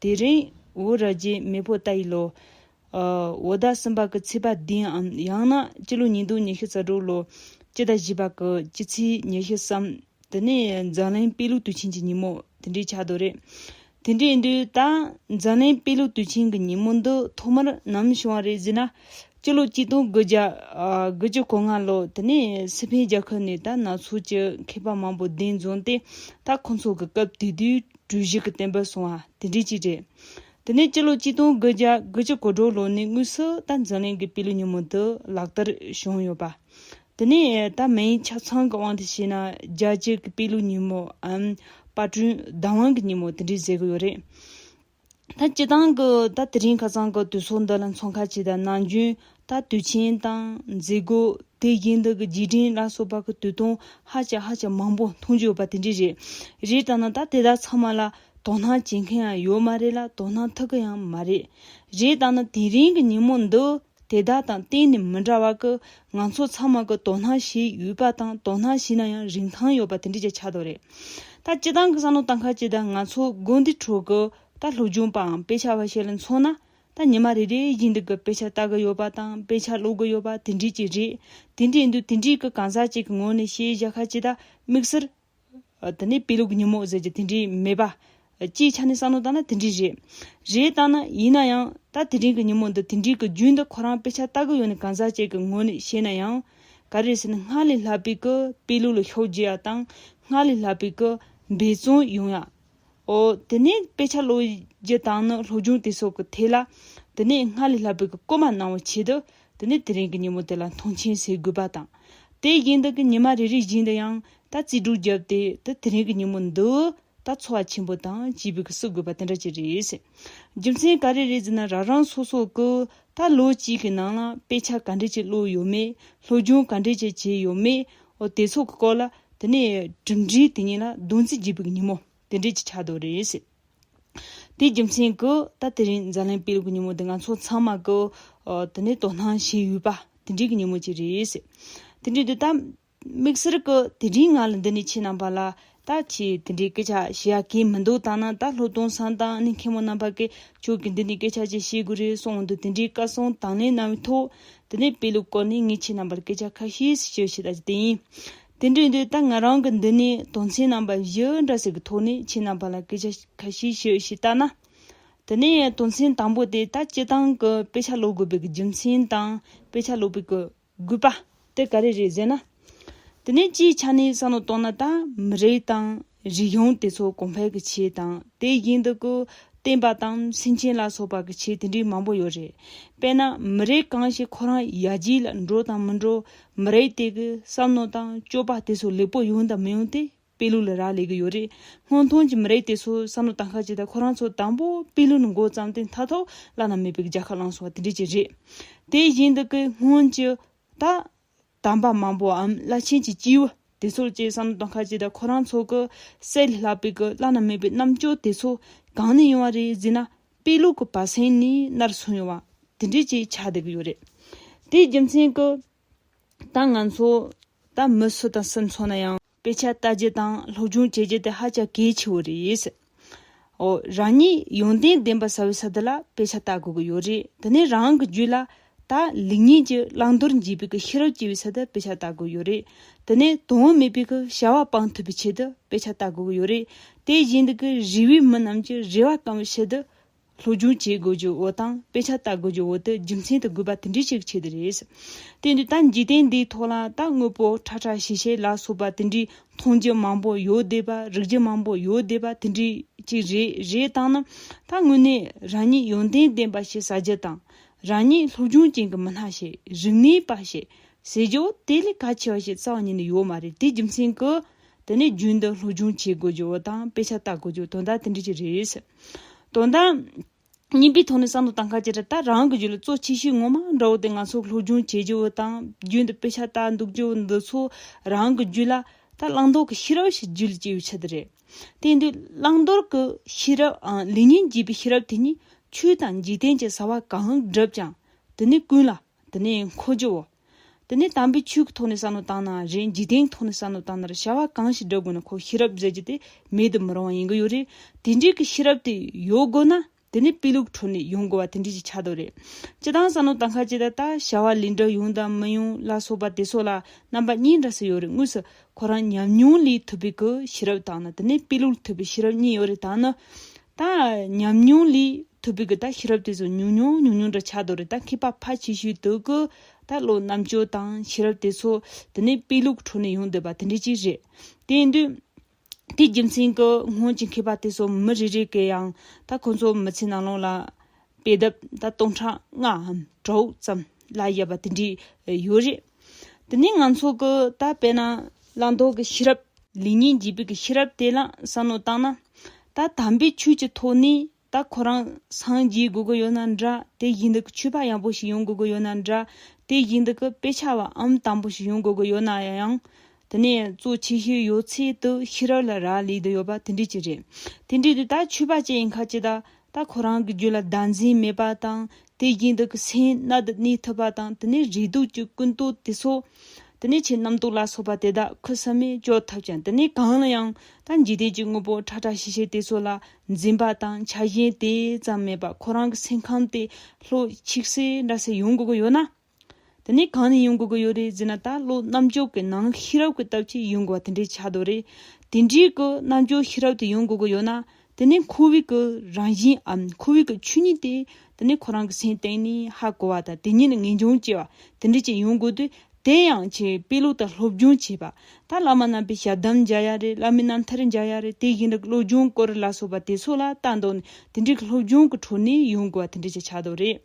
དེ་རིང་འོ་ར་རྗེ་མེས་པོ་ཏཱ་ཡི་ལོ། འོ་ད་སུམ་པ་གི་ཚེས་པ་འདི་ཡང་ན་སྤྱི་ལོ་ཉིས་སྟོང་ཉི་ཤུ་རྩ་དྲུག་ལོ་སྤྱི་ཟླ་བཞི་པ་གི་སྤྱི་ཚེས་ཉེར་བཞི་སམ་དེ་ནས་འཛམ་གླིང་དཔེ་ལུགས་དུས་ཆེན་གྱི་ཉིན་མོ་དེ་འདྲའི་ཆགས་འདུག་རེད། དེ་འདྲའི་དུས་ད་འཛམ་གླིང་དཔེ་ལུགས་དུས་ཆེན་གྱི་ཉིན་མོ་འདི་ཐོག་མར་ནམ་བྱུང་བ་རེད་ཟེར་ན་སྤྱི་ལོ་གཅིག་སྟོང་དགུ་བརྒྱ་དགུ་བཅུ་གོ་ལྔ་ལོར་དེ་ནས་སི་ཕེན་རྒྱལ་ཁབ་ནས་ད་ནག་ཚོགས་ཀྱི་མཁས་པ་མང་པོ་གདན་འཛོམས་ཏེ་ད་ཁོ་ཚོ་གི་སྐབས་དེ་དུས་གྲུ་བཞི་གི་བསྟན་པ་སྲུང་བ་དེ་འདྲས་ཅིག་རེད། དེ་ནས་སྤྱི་ལོ་གཅིག་སྟོང་དགུ་བརྒྱ་དགུ་བཅུ་གོ་དྲུག་ལོ་ནས་དངོས་སུ་ད་འཛམ་གླིང་གི་དཔེ་ལུགས་ཉིན་མོ་འདི་ལག་བསྟར་བྱུང་ཡོད་པ། དེ་ནས་ད་མིའི་ཆ་ཚང་གི་དབང་དུ་བྱས་ན་རྒྱལ་སྤྱིའི་དཔེ་ལུགས་ཉིན་མོའམ་དཔར་སྐྲུན་བདག་དབང་གི་ཉིན་མོ་དེ་འདྲས་ཟེར་གི་ཡོད་རེད། ད་སྤྱི་དང་གི་ད་དེ་རིང་ཁ་སང་གི་དུས་སོགས་འདི་ལ་མཚོན་ཁ་ཆེ་དང་ནང་རྒྱུན་ད་དུས་ཆེན་དང་མཛད་སྒོ་དེ་བཞིན་དག་གི་རྗེས་དྲན་ལ་སོགས་པ་གི་དུས་སྟོན་ཧ་ཅང་ཧ་ཅང་མང་པོ་མཐོང་རྒྱུ་ཡོད་པ་དེ་འདྲས་རེད། རེད་བལྟ་ན་ད་དེ་དག་ཚང་མ་ལ་དོ་སྣང་བྱེད་མཁན་ཡང་ཡོད་མ་རེད་ལ་དོ་སྣང་ཐུག་གི་ཡང་མ་རེད། རེད་བལྟ་ན་དེ་རིང་གི་ཉིན་མོ་འདི། དེ་དག་དང་གཏན་ནས་མི་འདྲ་བ་ཀི་ང་ཚོ་ཚང་མ་ཀི་དོ་སྣང་བྱེད་ཡུལ་པ་དང་དོ་སྣང་བྱེད་ན་ཡང་རིན་ཐང་ཡོད་པ་དེ་འདྲས་ཀྱི་ཆ་དོ་རེད། ད་སྤྱི་དང་གི་བསམ་བློ་བཏང་ཁ་ཅི་ད་ང་ཚོ་དགོན་འདི་ཁྲོད་ཀི་ད་ལྷོ་སྒྱུང་པའམ་དཔེ་ཆ་བ་ཞིག་ལ་མཚོན་ན་ད་ཉི་མ་རེ་རེའི་བཞིན་དུ་ཀི་དཔེ་ཆ་ལྟ་གི་ཡོད་པ་དང་དཔེ་ཆ་ཀློག་གི་ཡོད་པ་དེ་འདྲས་ཀྱི་རེད་དེ་འདྲས་འདུག་དེ་འདྲས་ཀི་གང་ཟག་ཅིག་གི་ངོས་ནས་བཤད་བཞག་ཁ་ཅི་ད་དམིགས་བསལ་དེ་ནས་དཔེ་ལུགས་ཉིན་མོ་ཟེར་གྱི་དེ་འདྲའི་མེད་པ། སྤྱིའི་ཆ་ནས་བསམ་བློ་བཏང་ན་དེ་འདྲའི་རེད། རེད་བཏང་ན་ཡིན་ན་ཡང་ད་དེ་རིང་གི་ཉིན་མོ་འདི་དེ་འདྲའི་གི་རྒྱུན་འདི་ཁོ་རང་དཔེ་ཆ་ལྟ་གི་ཡོད་ནི་གང་ཟག་བཅས་ཀྱི་ངོས་ནས་བཤད་ན་ཡང། ག་རེ་ཟེར་ན་སྔར་ལས་ལྷག་པའི་གི་དཔེ་ལུགས་ལ་ཤོག་རྒྱས་ཡ་དང་སྔར་ལས་ལྷག་པའི་གི་འབད་བརྩོན་ཡོང་ཡ། ཨོ། དེ་ནས་དཔེ་ཆ་ལོ་བརྒྱད་དང་ནི་ལྷོ་རྒྱུང་དེ་སོགས་ཀྱི་ཐད་ལ། དེ་ནས་སྔར་ལས་ལྷག་པའི་གི་བཀོད་མ་གནང་བའི་ཆེད་དུ། དེ་ནས་དེ་རིང་གི་ཉིན་མོ་དེ་ལ་མཐོང་ཆེན་ཟེར་དགོས་པ་དང། དེ་བཞིན་དུ་གི་ཉི་མ་རེ་རེ་བཞིན་དུ་ཡང་ད་རྩིས་འགྲུག་བརྒྱབ་སྟེ་དེ་དེ་རིང་གི་ཉིན་མོ་འདི། ད་འཚོ་བ་ཆེན་པོ་དང་བཅས་པའི་གི་བསུ་དགོས་པ་དེ་འདྲ་ཅིག་རེད། རྒྱུ་མཚན་ག་རེ་རེད་ཟེར་ན་རང་རང་སོ་སོ་གི་ད་ལོ་གཅིག་གི་ནང་ལ་དཔེ་ཆ་ག་འདྲས་ཅིག་ཀློག་ཡོད་མེད་ལྷོ་རྒྱུང་ག་འདྲས་ཅིག་བྱས་ཡོད་མེད་ཨོ་དེ་ཚོ་གི་སྐོར་ལ་དེ་ནས་གྲུབ་འབྲས་དེ་ཉིད་ལ་བདུན་ཚིགས་བརྒྱད་པོའི་ཉིན་མོ་དེ་འབྲེལ་གྱི་ཆ་དོ་རེད། དེའི་རྒྱུ་མཚན་གྱིས་ད་དེ་རིང་འཛམ་གླིང་སྤེལ་གྱི་ཉིན་མོ་དེ་ང་ཚོ་ཚང་མ་གི་དེ་ནས་དོ་སྣང་བྱེད་ཡུལ་པ་དེ་འབྲེལ་གྱི་ཉིན་མོ་ཅིག་རེད། དེ་འབྲེལ་དུ་ད་དམིགས་བསལ་གྱི་དེ་རིང་ང་ལ་འདི་ནས་ཁྱེད་རྣམ་པ་ལ་ད་ཁྱེད་དེ་འདྲའི་སྐད་ཆ་བཤད་ཡ་གི་མི་འདུག་ད་ནང་ད་ལྷོ་སྟོང་སང་དང་གནས་མཁན་མོ་རྣམ་པ་གིས་ཁྱོད་ཀྱིས་འདི་ནས་སྐད་ཆ་ཅིག་བཤད་དགོས་རེད་གསུངས་འདུག་དེ་འདྲའི་བཀའ་གསུང་དང་ལེན་གནང་བའི་ཐོག་དེ་ནས་དཔེ་ལུགས་སྐོར་ནས་ངས་ཁྱེད་རྣམས་པར་སྐད་ཆ་ཁ་ཤས་ཤིག་བཤད་ཤེས་བསྡད་ཡིན། དེ་འདྲའི་དུས་ད་ང་རང་གི་མདུན་ནས་དོན་ཚན་རྣམ་པ་བཞི་འདྲ་ཞིག་གི་ཐོག་ནས་ཁྱེད་རྣམས་པ་ལ་སྐད་ཆ་ཁ་ཤས་ཤིག་ཤེས་བསྡད་ན། དེ་ནས་དོན་ཚན་དང་པོ་དེ་ད་སྤྱི་བཏང་གི་དཔེ་ཆ་ཀློག་དགོས་པའི་རྒྱུ་མཚན་དང་དཔེ་ཆ་ཀློག་པའི་དགོས་པ་དེ་ག་རེ་རེད་ཟེར་ན། དེ་ནས་སྤྱིའི་ཆ་ནས་བསམ་བློ་བཏང་ན་ད་མི་རིགས་དང། རིགས་ཡོངས་དེ་ཚོ་གོང་འཕེལ་གྱི་ཆེད་དང་དེ་བཞིན་དུ་སྐུ་བརྟེན་པ་དང་སེམས་ཅན་ལ་སོགས་པ་གྱི་ཆེད་དེ་འདྲའི་མང་པོ་ཡོད་རེད། དཔེར་ན་མི་རིགས་གང་ཞིག་ཁོ་རང་ཡར་རྒྱས་ལ་འགྲོ་དང་མི་འགྲོ་མི་རིགས་དེ་གི་བསམ་མནོ་དང་སྤྱོད་པ་དེ་ཚོ་ལེགས་པོ་ཡོང་དང་མི་ཡོང་དེ་དཔེ་ལུགས་ལ་རག་ལས་ཀྱི་ཡོད་རེད། སྔོན་ཐོན་གྱི་མི་རིགས་དེ་ཚོའི་བསམ་བློ་དང་ཁ་ཅིག་ད་ཁོ་རང་ཚོ་དང་པོ་དཔེ་ལུགས་ནས་མགོ་བརྩམས་ཏེ་མཐའ་ཐོག་བླ་ན་མེད་པའི་རྒྱལ་ཁ་བླངས་སོང་བ་དེ་འདྲས་ཀྱི་རེད། དེ་བཞིན་དུ་སྐུ་སྔོན་གྱི། ད། དམ་པ་མང་པོའམ་བླ་ཆེན་གྱི་སྐྱེས་བུ་དེ་ཚོར་བཅས་སམ་དོན་ཁ་ཅིག་དང་ཁོ་རང་ཚོ་གི་སྲས་ལས་ལྷག་པའི་གི་བླ་ན་མེད་པའི་རྣམ་དཔྱོད་དེ་ཚོ་གང་ནས་ཡོང་བ་རེད་ཟེར་ན་དཔེ་ལུགས་ཀྱི་བར་གསེང་ནས་ནར་སོན་ཡོང་བ་དེ་འདྲས་ཀྱིས་ཆགས་བསྡད་ཀྱི་ཡོད་རེད། དེའི་རྒྱུ་མཚན་གྱིས། ད་ང་ཚོ། ད་མི་སུ་དང་སུ་འཚོ་ན་ཡང། དཔེ་ཆ་ལྟ་རྒྱུ་དང་སློབ་སྦྱོང་བྱེད་རྒྱུ་དེ་ཧ་ཅང་གལ་ཆེ་བོ་རེད། འོ། རང་ཉིད་ཡོན་ཏན་ལྡན་པ་ཟ་བའི་ས་དེ་ལ་དཔེ་ཆ་ལྟ་དགོས་ཀྱི་ཡོད་རེད་དེ་ནས་རང་གི་རྒྱུད་ལ། ད་ལིག་ཉིད་ཀྱི་བླང་དོར་འབྱེད་པའི་ཀྱི་ཤེས་རབ་སྐྱེ་བའི་ས་དེ་དཔེ་ཆ་ལྟ་དགོས་ཡོད་རེད་དེ་ནས་དོན་དངོས་མེད་པའི་ཀྱི་བྱ་བ་སྤང་ཐུབ་པའི་ཆེད་དུ་དཔེ་ཆ་ལྟ་དགོས་ཀྱི་ཡོད་རེད་དེ་བཞིན་དུ་ཀྱི་རིགས་བའི་མི་རྣམས་ཀྱི་རེ་བ་སྐང་བའི་ཆེད་དུ་སློབ་སྦྱོང་བྱེད་དགོས་རྒྱུ་བོ་དང་དཔེ་ཆ་བལྟ་དགོས་རྒྱུ་བོ་དེ་རྒྱུ་མཚན་དུ་དགོས་པ་དེ་འདྲའི་ཞིག་བྱེད་དེ་རེད། དེ་འདྲའི་ད་འཇིག་རྟེན་འདིའི་ཐོག་ལ་ད་དངོས་པོ་ཁྲ་ཁྲ་ཤེས་ཤེས་ལ་སོགས་པ་དེ་འདྲའི་མཐོང་རྒྱུ་མང་པོ་ཡོད་བསྡད་པ་རིག་རྒྱུ་མང་པོ་ཡོད་བསྡད་པ་དེ་འདྲའི་ཅིག་རེད་རེད་བཏང་ན་ད་དངོས་གནས་རང་ཉིད་ཡོན་ཏན་ལྡན་པ་ཞིག་ཟ་རྒྱུ་དང་རང་ཉིད་སློབ་སྦྱོང་ཅན་གྱི་མི་སྣ་ཞིག་རིག་གནས་པ་ཞིག་ཟེར་རྒྱུ་དེ་ལས་གལ་ཆེ་བ་ཞིག་རྩ་བ་ཉིད་ནས་ཡོད་མ་རེད་དེ་རྒྱུ་མཚན་གྱིས་དེ་ནས་རྒྱུན་དུ་སློབ་སྦྱོང་བྱེད་དགོས་རྒྱུ་བོ་དང་དཔེ་ཆ་བལྟ་དགོས་རྒྱུ་དོན་དག་དེ་འདྲའི་ཅིག་རེད། དོན་དང། རྙིང་པའི་ཐོག་ནས་བསམ་བློ་བཏང་ཁ་ཇི་ལྟར་ལྟར་རང་གི་རྒྱུད་ལ་གཙོ་ཆེ་ཤོས་ངོ་མ་འདྲ་བོ་དེ་ང་ཚོར་སློབ་སྦྱོང་བྱེད་རྒྱུ་བོ་དང་རྒྱུན་དུ་དཔེ་ཆ་ལྟ་འདུག་རྒྱུ་བོ་འདི་ཚོ་རང་གི་རྒྱུད་ལ་ད་བླང་དོར་གྱི་ཤེས་རབ་ཞིག་རྒྱུད་ལ་སྐྱེ་ཡོད་ཆེད་དུ་རེད། དེ་འདུག་བླང་དོར་གྱི་ཤེས་རབ་འང་ལེ་ཉིན་བགྱིས་པའི་ཤེས་རབ་དེ་ཉིད་ཆོས་དང་འཇིག་རྟེན་གྱི་བྱ་བ་གང་བསྒྲུབས་ཀྱང་དེ་ནི་ཀུན་ལ་དེ་ནི་འཁོར་རྒྱུ་བོ། དེ་ནས་དམ་པའི་ཆོས་ཀྱི་ཐོག་ནས་བསམ་བློ་བཏང་ན་རེད་འཇིག་རྟེན་གྱི་ཐོག་ནས་བསམ་བློ་བཏང་ན་རེད་བྱ་བ་གང་ཞིག་བསྒྲུབ་དགོས་ན་ཁོ་ཤེས་རབ་མཛད་རྒྱུ་དེ་མེད་དུ་མི་རུང་བ་ཡིན་གྱི་ཡོད་རེད་དེ་འདྲའི་གི་ཤེས་རབ་དེ་ཡོད་དགོས་ན་དེ་ནི་དཔེ་ལུགས་ཁྲོད་ནས་ཡོང་དགོས་བ་དེ་འདྲའི་ཞིག་ཆགས་འདུག་རེད་སྤྱི་དང་བསམ་བློ་བཏང་ཁ་ཅིག་ད་ལྟ་བྱ་བ་ལས་འགྲིག་ཡོང་དང་མི་ཡོང་ལ་སོགས་པ་དེ་སོགས་ལ་རྣམ་པ་གཉིས་འདྲ་སུ་ཡོད་རེད་དངོས་སུ་ཁོ་རང་ཉམས་མྱོང་ལས་ཐོས་པའི་གི་ཤེས་རབ་དང་ནི་དེ་ནས་དཔེ་ལུགས་ལས་ཐོས་པའི་ཤེས་རབ་གཉིས་ཡོད་རེད་ད་ནི་ད་ཉམས་མྱོང་ལས་ཐུབ་པའི་གི་ད་ཤེས་རབ་དེ་ཚོ་ཉུང་ཉུང་ཉུང་ཉུང་འདྲ་ཆགས་འདུག་རེད་ད་མཁས་པ་ཕ་ཆེ་ཤོས་དག་གི་ད་བློ་རྣམ་དཔྱོད་དང་ཤེས་རབ་དེ་ཚོ་དེ་ནས་དཔེ་ལུགས་འཕྲོ་ནས་ཡོང་འདོད་པ་དེ་འདྲ་ཅིག་རེད། དེ་ཡིན་དུས། དེའི་རྒྱུ་མཚན་གི་སྔོན་གྱི་མཁས་པ་དེ་ཚོ་མི་རེ་རེ་གས་ཡང་ད་ཁོ་ཚོ་མི་ཚེ་ནང་ལོང་ལ་དཔེ་དེབ་ད་སྟོང་ཕྲག་ལྔའམ་དྲུག་ཙམ་ལ་ཡོད་པ་དེ་འདྲ་ཡོད་རེད། དེ་ནས་ང་ཚོ་གི་ད་བལྟ་ན་བླང་དོར་གྱི་ཤེས་རབ། ལེགས་ཉེས་འབྱེད་པོའི་ཤེས་རབ་དེ་ལ་བསམ་བློ་བཏང་ན། ད་དམ་པའི་ཆོས་ཀྱི་ཐོག་ནས་ད་ཁོ་རང་སངས་རྒྱས་དགོས་ཀྱི་ཡོད་ན་འདྲ་དེ་བཞིན་དུ་ཆོས་པ་ཡག་པོ་ཞིག་ཡོང་དགོས་ཀྱི་ཡོད་ན་འདྲ་དེ་བཞིན་དུ་དཔེ་ཆ་བའམ་དམ་པོ་ཞིག་ཡོང་དགོས་ཀྱི་ཡོད་ན་ཡང། དེ་ནས་གཙོ་ཆེ་ཤོས་ཡོད་ཚད་དུ་ཤེས་རབ་ལ་རག་ལས་དུ་ཡོད་པ་དེ་འདྲས་ཅིག་རེད། དེ་འདྲས་དུ་ད་ཆོས་པ་ཅན་ཡིན་ཁ་ཅིག་ད་ད་ཁོ་རང་གི་རྒྱུད་ལ་བདག་འཛིན་མེད་པ་དང་དེ་བཞིན་དུ་ཀྱི་སེམས་རྣལ་དུ་གནས་ཐུབ་པ་དང་དེ་ནས་རེ་དོགས་ཀྱི་ཀུན་རྟོག་དེ་སོགས། དེ་ནས་ཆེས་རྣམ་རྟོག་ལ་སོགས་པ་དེ་དག་ཁུ་སིམ་མེར་སྐྱོ་ཐུབ་ཅིང་དེ་ནས་གང་ལ་ཡང་ད་འཇིག་རྟེན་གྱི་དངོས་པོ་ཁྲ་ཁྲ་ཤིག་ཤིག་དེ་ཚོ་ལ་འཛིན་པ་དང་ཆགས་ཞེན་དེ་ཙམ་མེད་པར་ཁོ་རང་གི་སེམས་ཁམས་དེ་ལྷོད་ཆིག་སེ་འདྲ་སེ་ཡོང་དགོས་ཀྱི་ཡོད་ན། དེ་ནས་གང་ནས་ཡོང་དགོས་ཀྱི་ཡོད་རེད་ཟེར་ན་ད་ལོ་རྣམ་འཇོག་གི་ནང་ཤེས་རབ་ཀྱི་སྟབས་ཀྱིས་ཡོང་དགོས་པ་དེ་འདྲའི་ཆ་དོ་རེད། དེ་འདྲའི་གི་རྣམ་འཇོག་ཤེས་རབ་དེ་ཡོང་དགོས་ཀྱི་ཡོད་ན་དེ་ནས་ཁོ་བོའི་གི་རང་བཞིན་འམ་ཁོ་བོའི་གི་ཆོས་ཉིད་དེ་དེ་ནས་ཁོ་རང་གི་སེམས་སྟེང་ནས་ཧ་གོ་བ་དང་དེ་ཉིད་ནས་ངེས་འབྱུང་སྐྱེ་བ་དེ་འདྲའི་ཅིག་ཡོང་དགོས་དུས་དེ་ཡང་ཆེས་དཔེ་ལུགས་དང་སློབ་སྦྱོང་བྱས་པ། ད་བླ་མ་རྣམ་པའི་ཞབས་གདམས་མཇལ་ཡ་རེད་བླ་མའི་རྣམ་ཐར་མཇལ་ཡ་རེད་དེ་བཞིན་དུ་བློ་སྦྱོང་སྐོར་ལ་སོགས་པ་དེ་ཚོ་ལ་ལྟ་འདོགས་ནས་དེ་འདྲའི་གི་སློབ་སྦྱོང་གི་ཁྲོད་ནས་ཡོང་དགོས་པ་དེ་འདྲའི་ཅིག་ཆ་དོ་རེད།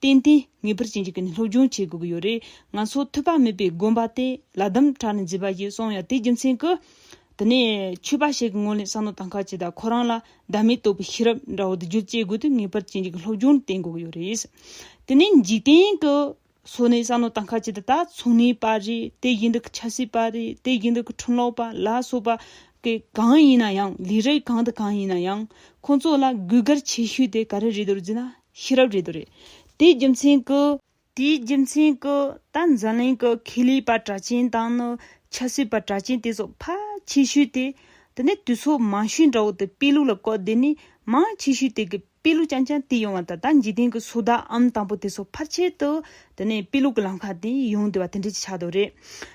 བརྟེན་ཏེ་ངེས་པར་ཅན་གྱི་ཀུན་སློབ་སྦྱོང་བྱེད་དགོས་ཀྱི་ཡོད་རེད་ང་ཚོ་ཐོས་པ་མེད་པའི་དགོན་པ་དེ་ལ་གདམ་གྲ་ནས་འཛིན་པ་ཞིག་སོང་ཡང་དེའི་རྒྱུ་མཚན་གྱི། དེ་ནས་ཆོས་པ་ཞིག་གི་ངོས་ལེན་བསམ་བློ་དང་ཁ་ཆེ་དང་ཁོ་རང་ལ་བདག་མེད་རྟོགས་པའི་ཤེས་རབ་འདྲ་བོ་དེ་བརྒྱུད་བཅས་སྒོས་དེ་ངེས་པར་ཅན་གྱི་ཀུན་སློབ་སྦྱོང་ལ་བརྟེན་དགོས་ཀྱི་ཡོད་རེད། དེ་ནས་འཇིག་རྟེན་གྱི། སོ་ནས་བསམ་བློ་དང་ཁ་ཆེ་དེ་དག་ཚུགས་ནས་པ་རེད་དེ་བཞིན་དུ་ཆབ་སྲིད་པ་རེད་དེ་བཞིན་དུ་འཁྲུངས་ལོག་པ་ལ་སོགས་པ། གི་གང་ཡིན་ན་ཡང་ལས་རིགས་གང་དང་གང་ཡིན་ན་ཡང་ཁོང་ཚོ་ལ་གུས་བཀུར་ཆེ་ཤོས་དེ་ག་རེ་རེད་དུ་འཛིན་ན་ཤེས་རབ་རེ་དོ་རེ། དེའི་རྒྱུ་མཚན་གྱི། དེའི་རྒྱུ་མཚན་གྱི། ད་འཛམ་གླིང་གི་ཁེ་ལས་པ་གྲགས་ཅན་དང་ནི་ཆབ་སྲིད་པ་གྲགས་ཅན་དེ་ཚོ་ཕ་ཆེ་ཤོས་དེ། དེ་ནས་དུས་ཚོད་མང་ཤོས་འདྲ་བོ་དེ་དཔེ་ལུགས་ལ་གོ་དེ་ནས་མང་ཆེ་ཤོས་དེ་གི་དཔེ་ལུགས་ཅང་ཅང་དེ་ཡོང་བ་ད་ད་འཇིག་རྟེན་གྱི་སོ་ད་ཨམ་དང་པོ་དེ་ཚོ་ཕར་ཆེར་དུ་དེ་ནས་དཔེ་ལུགས་ཀྱི་ལམ་ཁ་དེ་ཡོང་དུས་བ་དེ་འདྲས་ཀྱི་ཆགས་དོ་རེད།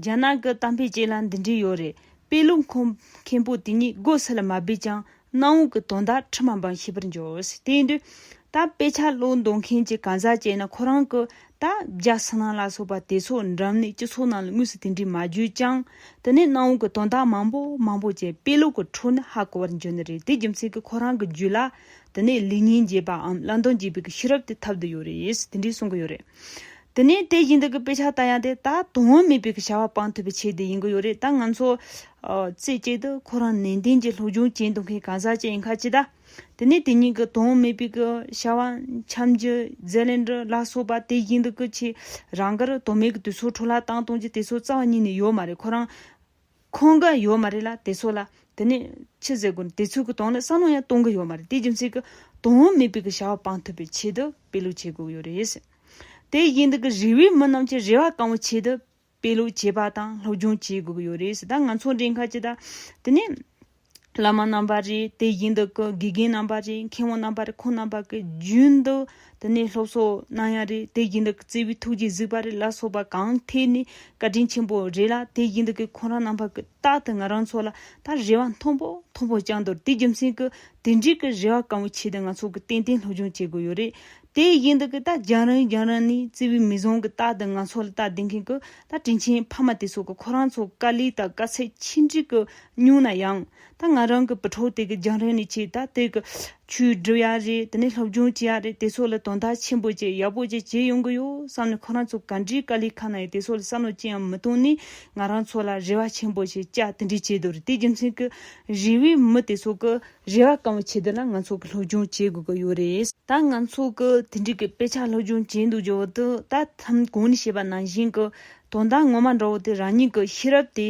རྒྱ་ནག་གི་གཏམ་དཔེ་ཅིག་ལ་འདི་འདྲས་ཡོད་རེད་དཔེ་ལུགས་མཁོ། མཁན་པོ་དེ་ཉིད་སྒོ་ས་ལ་མ་སྦས་ཀྱང་གནམ་འོག་གི་དོན་དག་ཁྲི་མ་འབངས་ཤེས་པར་འགྱུར། དེ་འདུག་ད་དཔེ་ཆ་བློ་འདོན་མཁན་གྱི་གང་ཟག་བྱས་ན་ཁོ་རང་གི་ད་རྒྱ་སི་ནང་ལ་སོགས་པ་དེ་ཚོ་འགྲམ་ནས་སྤྱི་ཚོགས་ནང་ལ་དངོས་སུ་དེ་འདྲས་མ་བརྗོད་ཀྱང་དེ་ནས་གནམ་འོག་གི་དོན་དག་མང་པོ་མང་པོ་བྱས་དཔེ་ལུགས་ཀྱི་འཕྲོ་ནི་ཧ་གོ་བར་འགྱུར་ནི་རེད་དེ་རྒྱུ་མཚན་གྱི་ཁོ་རང་གི་རྒྱུད་ལ་དེ་ནས་ལེགས་ཉེས་འབྱེད་པའམ་བླ་འདོམས་བྱེད་པའི་གི་ཤེས་རབ་དེ་ཐབས་དུ་ཡོད་རེད་དེ་འདྲས་གསུང་གི་ཡོད་རེད། དེ་ནས་དེ་བཞིན་དུ་གི་དཔེ་ཆ་ལྟ་ཡང་དེ་ད་དོན་མེད་པའི་གི་བྱ་བ་སྤང་ཐུབ་པའི་ཆེད་དུ་ཡིན་གི་ཡོད་རེད་ད་ང་ཚོ། རྩེ་གཅིག་ཏུ་ཁོ་རང་ནན་ཏན་གྱི་སློབ་སྦྱོང་བྱེད་འདུག་མཁན་གང་ཟག་ཅིག་ཡིན་ཁར་ཅི་ད། དེ་ནས་དེ་གཉིས་གི་དོན་མེད་པའི་གི་བྱ་བ་འཆམ་རྒྱུ་རྫས་ལེན་རུ་ལ་སོགས་པ་དེ་བཞིན་དུ་གི་ཆེད་རང་གར་དོན་མེད་གི་དུས་ཚོད་འཕྲོ་བརླག་བཏང་གཏོང་རྒྱུ་དེ་ཚོ་རྩ་བ་ཉིད་ནས་ཡོད་མ་རེད་ཁོ་རང། ཁོང་ག་ཡོད་མ་རེད་ལ་དེ་ཚོ་ལ། དེ་ནས། ཕྱི་ཟེར་དགོས་ནི་དེ་ཚོའི་གི་དོང་ནས་བསམ་བློ་ཡང་གཏོང་གི་ཡོད་མ་རེད་དེ་རྒྱུ་མཚན་གི། དོང་བོ་མི་དཔེ་གི་བྱ་བ་སྤང་ཐུབ་པའི་ཆེད་དུ་དཔེ་ལུགས་བྱེད་དགོས་ཡོད་རེད། དེ་བཞིན་དུ་གི་རི་བོའི་མི་རྣམས་ཀྱི་རེ་བ་བསྐང་བའི་ཆེད་དུ། དཔེ་ལུགས་བྱེད་པ་དང་སློབ་སྦྱོང་བྱེད་དགོས་གི་ཡོད་རེད། ད་ང་ཚོ་འདྲའི་ཁ་ཅིག་ད། དེ་ནས། བླ་མ་རྣམ་པར་རིག་དེ་བཞིན་དུ་ཀུན་དགེ་རྒན་རྣམ་པར་རིག་མཁས་དབང་རྣམ་པར་རིག་འཁོར་རྣམ་པར་ཀུན་རྒྱུན་དུ་དེ་ནས་སློབ་གསོ་གནང་ཡང་རིག་དེ་བཞིན་དུ་བརྩེ་བའི་ཐུགས་རྗེས་གཟིགས་པར་རིག་ལ་སོགས་པ་གང་ཐད་ནས་བཀའ་དྲིན་ཆེན་པོ་རེད་ལ་དེ་བཞིན་དུ་ཀུན་ཁོང་རང་རྣམ་པར་ཀུན་རྟག་ཏུ་ང་རང་ཚོ་ལ་ད་རེ་བ་མཐོང་པོ་མཐོང་པོ་བཅངས་འདུག་དེ་རྒྱུ་མཚན་གྱིས་དེ་འགྲིག་གི་རེ་བ་གང་བོ་བྱས་ཏེ་ང་ཚོ་གིས་ཏན་ཏན་སློབ་སྦྱོང་བྱེད་དགོས་ཡོད་རེད་དེ་ཡིན་འདུག་གི་ད་རྒྱང་རིང་རྒྱང་རིང་ནས་བརྩེ་བའི་མིག་ཟུང་གིས་ད་དུང་ང་ཚོ་ལ་བལྟ་བསྡད་མཁན་གྱི་ད་དྲིན་ཆེན་ཕ་མ་དེ་ཚོ་གི་ཁོ་རང་ཚོ་དཀའ་ལས་དང་དཀའ་ཚེགས་ཆེ་འབྲིང་གི་མྱུང་ན་ཡང་ད་ང་རང་གི་བུ་ཕྲུག་དེ་གི་རྒྱང་རིང་ནས་ཁྱེད་ད་དེ་གི་ཆུས་སྒྲིབ་ཡ་རེད་དེ་ནས་སློབ་སྦྱོང་བྱེད་ཡ་རེད་དེ་ཚོ་ལ་དོན་དག་ཆེན་པོ་བྱེད་ཡག་པོ་བྱེད་བྱེད་ཡོང་གི་ཡོད་བསམ་ནས་ཁོ་རང་ཚོ་ག་འདྲའི་དཀའ་ལས་ཁག་ན་ཡོད་དེ་ཚོ་ལ་བསམ་བློ་ཅི་ཡང་མི་གཏོང་ནས་ང་རང་ཚོ་ལ་རེ་བ་ཆེན་པོ་བྱེད་ཅག་དེ་འདྲས་བྱེད་དུ་རེད་དེ་རྒྱུ་མཚན་གྱི་རེ་བས་མི་དེ་ཚོ་གི། རེ་བ་གང་བྱེད་དེ་ལ་ང་ཚོ་གི་སློབ་སྦྱོང་བྱེད་དགོས་ཀྱི་ཡོད་རེད། ད་ང་ཚོ་གི་དེ་འགྲིག་གི་དཔེ་ཆ་སློབ་སྦྱོང་བྱེད་འདུག་ཇོ་བོ་དུ་ད་ཐེམ་གོང་ནས་བཤད་པ་ནང་བཞིན་གྱི་དོན་དག་ངོ་མ་འདྲ་བོ་དེ་རང་ཉིད་ཀྱི་ཤེས་རབ་དེ་